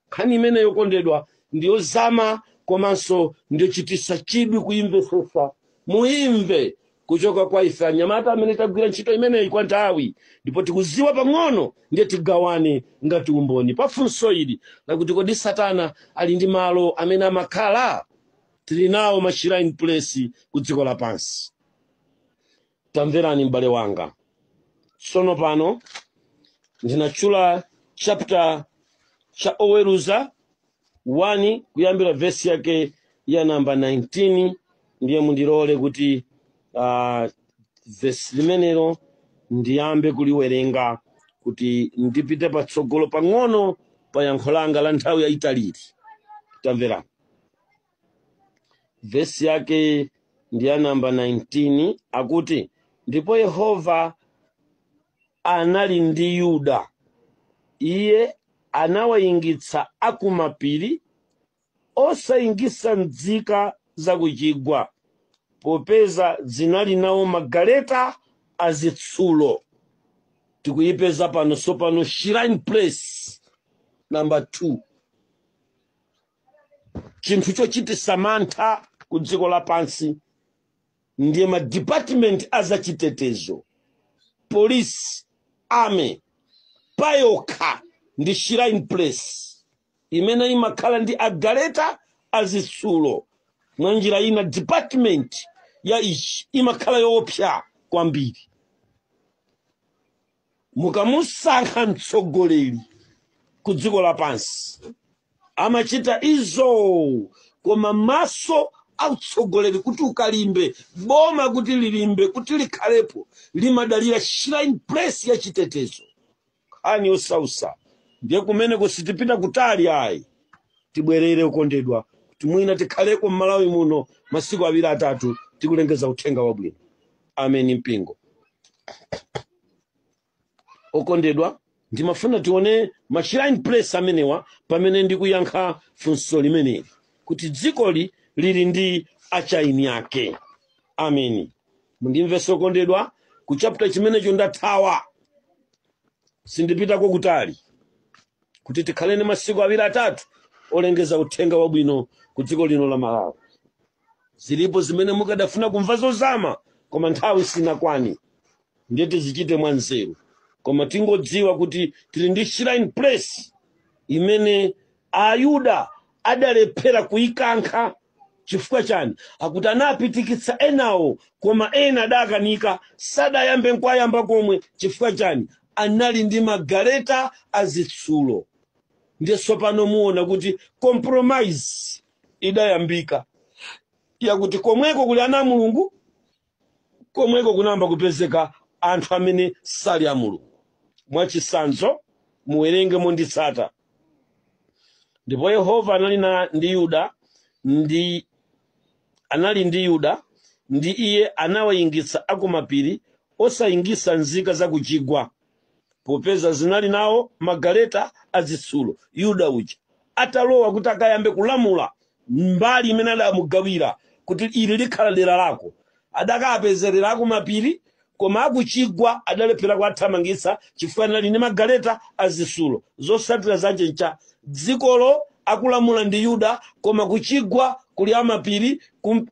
nkhani imeneyi okondedwa ndiyozama komanso ndiyochitisa chidwi kuyimvetsetsa muyimve kuchoka kwa ife anyamata amene tagwira ntchito imeneyi kwa nthawi ndipo tikuziwa pang'ono ndiye tigawane ngati umboni pa funso ili lakuti kodi satana ali ndi malo amene amakhala tili nawo ma shrine place ku dziko lapansi tamverani m'bale wanga tsono pano ndinatchula chapter cha oweruza 1 kuyambira vesi yake ya namba 19 ndiye mundilole kuti uh, vesi limenelo ndiyambe kuliwerenga kuti ndipite patsogolo pang'ono pa yankho langa la nthawi yayitaliri tamverani vesi yake ndi ya namba 19 akuti ndipo yehova anali ndi yuda iye anawayingitsa akumapiri osayingitsa nzika zakuchigwa popeza zinali nawo magaleta azitsulo tikuyipeza pano sopano shrine place number 2 chinthu chochitisa mantha ku dziko lapansi ndiye ma department a zachitetezo police army payokha ndi shrine place imene imakhala ndi agaleta azitsulo mwa njira ina department ya ichi imakhala yoopsa kwambiri mukamusankha mtsogoleri ku dziko lapansi amachita izo koma maso autsogoleri kuti ukalimbe boma kuti lilimbe kuti likhalepo limadalira shrine place ya chitetezo nkhani yosausa ndiye kumeneko sitipita kutali ayi tibwerere ukondedwa kuti mwina tikhaleko m'malawi muno masiku awiri atatu tikulengeza uthenga wabwino ameni mpingo okondedwa ndimafuna tione mashrine place amenewa pamene ndikuyankha funso limeneli kuti dzikoli lili ndi achaini yake ameni mundimvese okondedwa ku chapter chimenecho ndathawa sindipitako kutali kuti tikhale ndi masiku awiri atatu olengeza uthenga wabwino ku dziko lino la malawi zilipo zimene mukadafuna kumva zozama koma nthawi sinakwani ndiye tizichite mwa nzeru koma tingodziwa kuti tili ndi shrine place imene ayuda adalephera kuikankha chifukwa chani akuti anapitikitsa enawo koma ena adakanika sadayambe nkwayamba komwe chifukwa chani anali ndi magaleta azitsulo ndiye tsopano muona kuti compromise idayambika yakuti komweko kuli ana a mulungu komweko kunayamba kupezeka anthu amene sali a mulungu mwachitsanzo muwerenge monditsata ndipo yehova anali ndi yuda anali ndi yuda ndi iye anawayingitsa akumapiri osayingitsa nzika za kuchigwa popeza zinali nawo magaleta azitsulo yuda uja atalowa kuti akayambe kulamula mbali imene adamugawira kuti ili likhala dera lako adakapezerera akumapiri koma akuchigwa adalephera kuwathamangitsa chifukwa anali ndi magaleta azitsulo zotsatira zace ncha dzikolo akulamula ndi yuda koma kuchigwa kuli amapiri ku-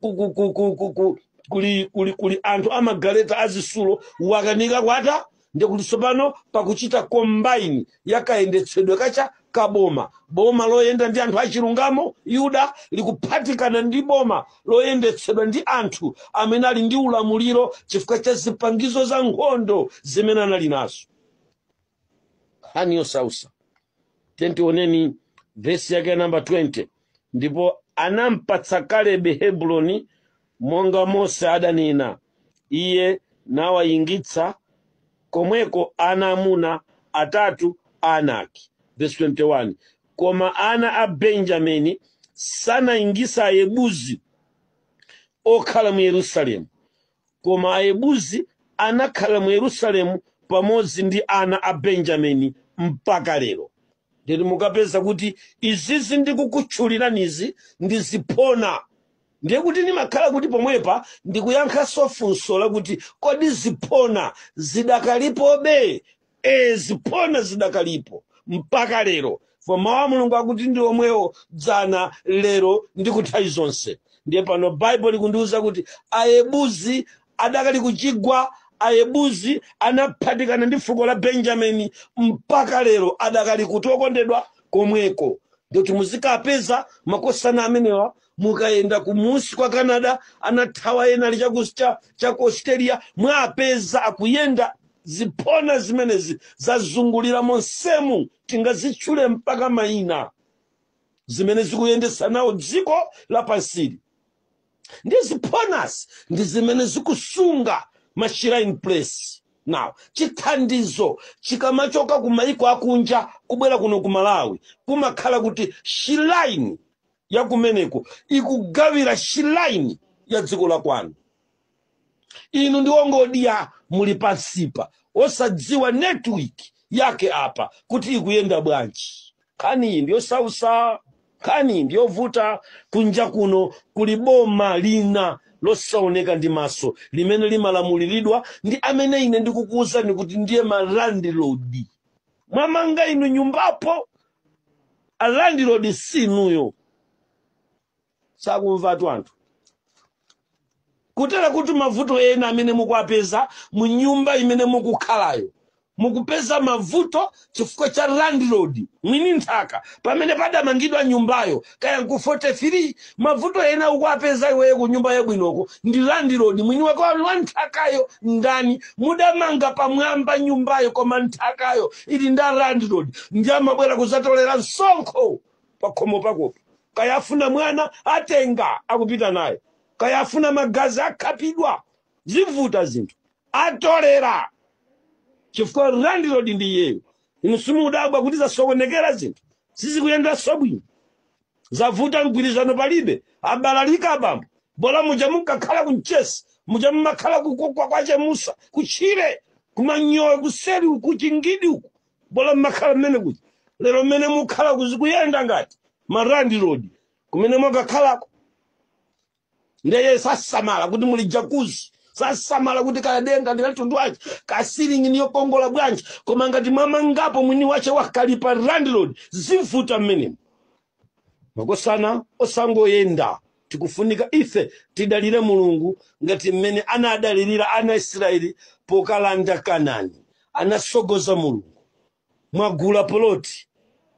kuli anthu amagaleta azisulo wakanika kwata ndikuti tsopano pakuchita combine yakayendetsedwe kake kaboma boma loyenda ndi anthu achilungamo yuda likuphatikana ndi boma loyendetsedwa ndi anthu amene ali ndi ulamuliro chifukwa cha zipangizo za nkhondo zimene anali nazo nkhani yosausa tentioneni vesi yake ya namba 20 ndipo anampatsa kalebe hebroni monga mose adanena iye nawayingitsa komweko ana amuna atatu a anaki vesi 21 koma ana a benjamini sanayingisa ayebuzi okhala mu yerusalemu Koma Ayebuzi anakhala mu Yerusalemu pamodzi ndi ana a Benjamini mpaka lero. Ndiyedi mukapeza kuti izizi ndikukutchuliranizi ndi ziphona, ndiye kuti ndimakhala kuti pomwepa ndikuyankhanso funso lakuti, kodi ziphona zidakalipobe ee ziphona zidakalipo mpaka lero fo mawu a mulungu akuti ndi omwewo dzana lero ndi kunthawi zonse ndiye pano baibulo likundiwuza kuti ayebuzi adakali kuchigwa ayebuzi anaphatikana ndi fuko la benjamini mpaka lero adakali kuti okondedwa komweko ndiye kuti muzikapeza makosana amenewa mukayenda kumunsi kwa canada anathawa ena ali cha ku australia mwapeza akuyenda Ziphona zimenezi zazungulira monsemu, tingazitchule mpaka mayina, zimene zikuyendetsa nawo dziko lapansili. Ndiye ziphonazi ndi zimene zikusunga ma shrine place. Now, chithandizo chikamachoka ku mayiko akunja kubwera kuno ku Malawi, kumakhala kuti shrine ya kumeneko ikugawira shrine ya dziko la kwanu. inu ndi wongodya muli pansipa osadziwa network yake apa kuti ikuyenda bwanji nkhani iyi ndiyosausa nkhani iyi ndiyovuta kunja kuno kuli boma lina losaoneka ndi maso limene limalamuliridwa ndi amene ine ndikukuwuzani kuti ndiye malandlord mwamanga inu nyumbapo a landlord sinuyo zakumvatu anthu kutera kuti mavuto ena amene mukuwapeza mu nyumba imene mukukhalayo mukupeza mavuto chifukwa cha landlord mwini nthaka pamene padamangidwa nyumbayo kaya nku 43 mavuto ena ukuwapeza iweyo ku nyumba yabwinoko ndi landlord mwini wake wa nthakayo ndani mudamanga pamwamba nyumbayo koma nthakayo ili ndi a landlord ndiye amabwera kuzatolera msonkho pakhomo pakopo kaya afuna mwana atenga akupita naye kaya afuna magazi akhapidwa zivuta zinthu atolera chifukwa landlord ndi iyeyo inu simudabwa kuti zasokonekera zinthu sizikuyendanso bwino zavuta mgwirizano palibe abalalika abambo bola muja mukakhala ku mchesi muja mumakhala ku- ku- kwa- kwache musa kutchire kumanyowe kuseri uku chingidi uku bola mumakhala mmene kuja lero mmene mukhala kuzikuyenda ngati malandlord kumene mwakakhalako ndeye sasamala kuti muli jakuzi sasamala kuti kadenga ndi kamtundu wace kasilingi ni yokongola bwanji koma ngati mwamangapo mwini wace wakalipa landlord zivuta mmenemo makosana osangoyenda tikufunika ife tidalire mulungu ngati mmene anadalirira ana israeli pokalanda kanani anasogoza mulungu mwagula poloti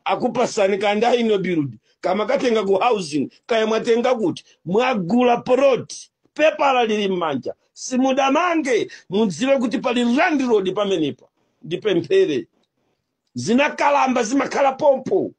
akupasani kanda ino build kama katenga ku housing kaya mwatenga kuti mwagula poloti pepala lili m'manja simunamange mudziwe kuti pali landlord pamenepa ndipemphere zinakalamba zimakhala pompo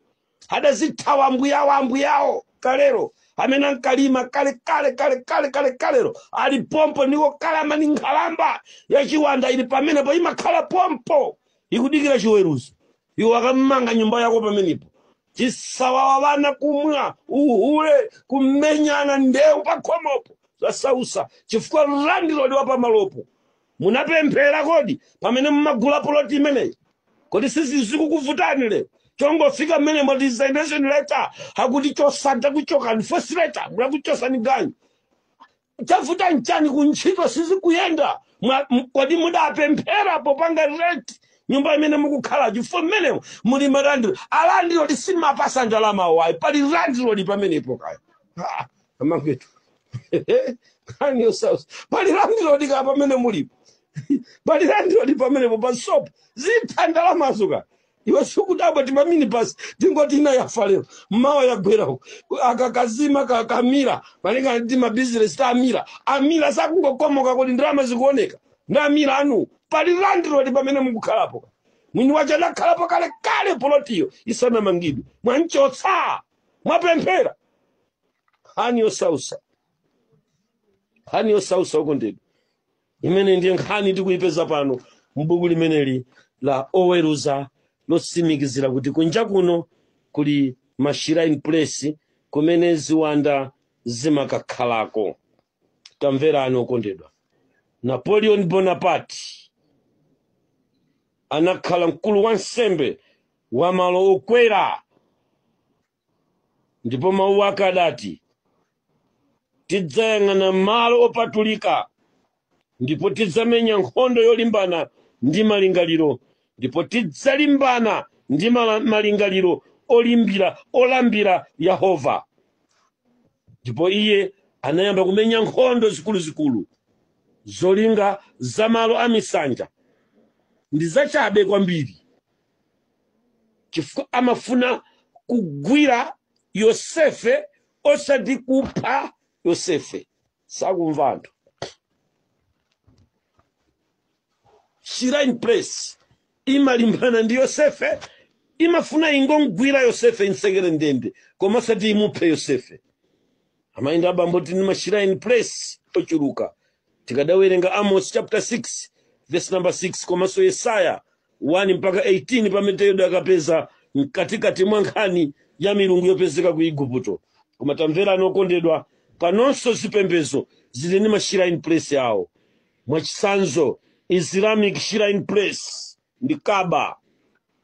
adazithawa ambuyawo ambuyawo kalero amene ankalima kale kale kale kale kale kalero ali pompo nikokalamba ni nkhalamba ya chiwanda ili pamenepo imakhala pompo ikudikira chiweruzo iwo akamanga nyumba yako pamenepo chisawawa vana kumwa uhule kumenyana ndeu pakhomopo zasausa chifukwa landilodi wa pamalopo munapemphera kodi pamene mumagula poloti imeneyi kodi sizi zikukuvutani lero chongofika mmene mwa resignation letter akuti chosani takuchotsani first letter akuchosani ganyu chavuta nchani kuntchito sizikuyenda Mwa- m- kodi mudapemphera popanga rent nyumba imene mukukhala chifukwa mmenemo muli malandlord alandlord simapasa ndalama wayi pali landlord pamenepo kaya Ah, amangetu nkhani yosausa pali landilodi ka pamene mulipo pali landilodi pamenepo pa sopo zitha ndalamazo ka iwe sukudabwa ti pamini basi tingoti ina yafa lero mmawa yagwera uko akakazima kakamira malingana ndi mabizinesi ta amira amira sakungokomoka kuti ndalama zikuoneka ndi amira anu pali landilodi pamene mukukhalapo mwini wache adakhalapo kale kale polotiyo isanamangidwe mwanchotsa mwapemphera nkhani yosausa nkhani yosausa okondedwa imene ndiye nkhani tikuyipeza pano m'buku limeneli la oweruza lotsimikizira kuti kunja kuno kuli mashrine place kumene ziwanda zimakakhalako tamverani okondedwa napoleon bonaparte anakhala mkulu wansembe wa malo okwera ndipo mawu ake adati tidzayang'ana malo opatulika ndipo tidzamenya nkhondo yolimbana ndi malingaliro ndipo tidzalimbana ndi mala- malingaliro olimbira olambira yehova ndipo iye anayamba kumenya nkhondo zikuluzikulu zolinga za malo a misanje ndi zachabe kwambiri chifukwa amafuna kugwira yosefe osati kupha yosefe sakumva anthu shrine place imalimbana ndi yosefe imafuna ingomgwira yosefe imtsekere ndende koma osati imuphe yosefe amayenda abambo tili ndi mashrine place ochuluka tikadawerenga amos chapter 6 verse number 6 komanso yesaya 1 mpaka 18 pamene tidakapeza mkatikati mwa nkhani ya milungu yopezeka ku iguputo koma tamverani okondedwa panonso zipembedzo zili ndi mashrine place awo mwachitsanzo islamic shrine place ndi kaba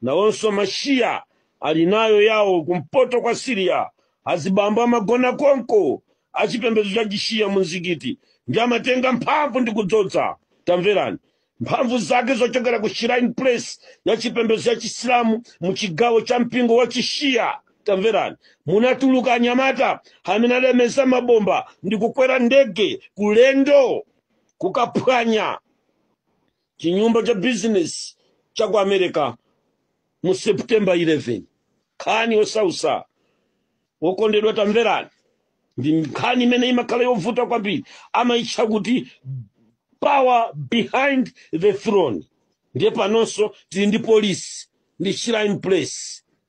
nawonso mashiya ali nayo yawo kumpoto kwa siriya azibambo amagona konko achipembedzo cha chishiya mu mzikiti ndiye amatenga mphamvu ndi kudzodza tamverani mphamvu zake zochokera ku shrine place ya chipembedzo cha chisilamu mu chigawo cha mpingo wa chishiya tamverani munatuluka anyamata amene adameza mabomba ndi kukwera ndege ulendo kukaphwanya chinyumba cha bizinesi cha ku america mu september 11 nkhani yosausa okondedwa tamverani ndi nkhani imene imakhala yovuta kwambiri amayitcha kuti power behind the throne ndiye panonso tili ndi polisi ndi shrine place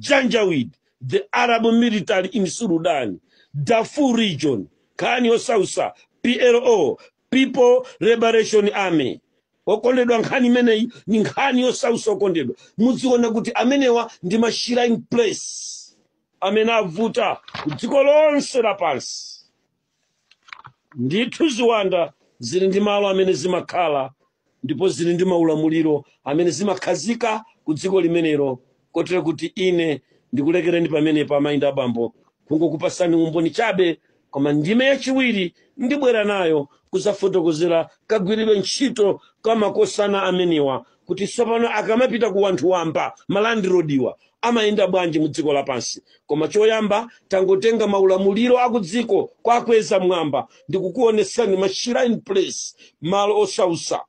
Janjaweed, the Arab military in Sudan, Darfur region, nkhani yosausa, PLO, People Liberation Army. okondedwa nkhani imeneyi ni nkhani yosausa okondedwa muziona kuti amenewa ndi ma shrine place amene avuta ku dziko lonse lapansi ndithu ziwanda zili ndi malo amene zimakhala ndipo zili ndi maulamuliro amene zimakhazika ku dziko limenelo kotero kuti ine ndikulekereni pamenepo amayi ndi abambo kungokupasani umboni chabe koma ndime yachiwiri ndibwera nayo kudzafotokozera kagwiridwe ntchito ka makosana amenewa kuti tsopano akamapita ku wanthu wamba ma landlord-wa amayenda bwanji mu dziko lapansi koma choyamba tangotenga maulamuliro akudziko kwa akweza mwamba ndikukuonetsani ma shrine place malo osausa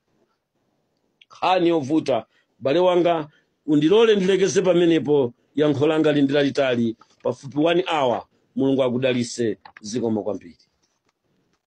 nkhani yovuta bale wanga undilole ndilekeze pamenepo yankho langa lili ndi lalitali pafupi 1 hour mulungu akudalise zikomo kwambiri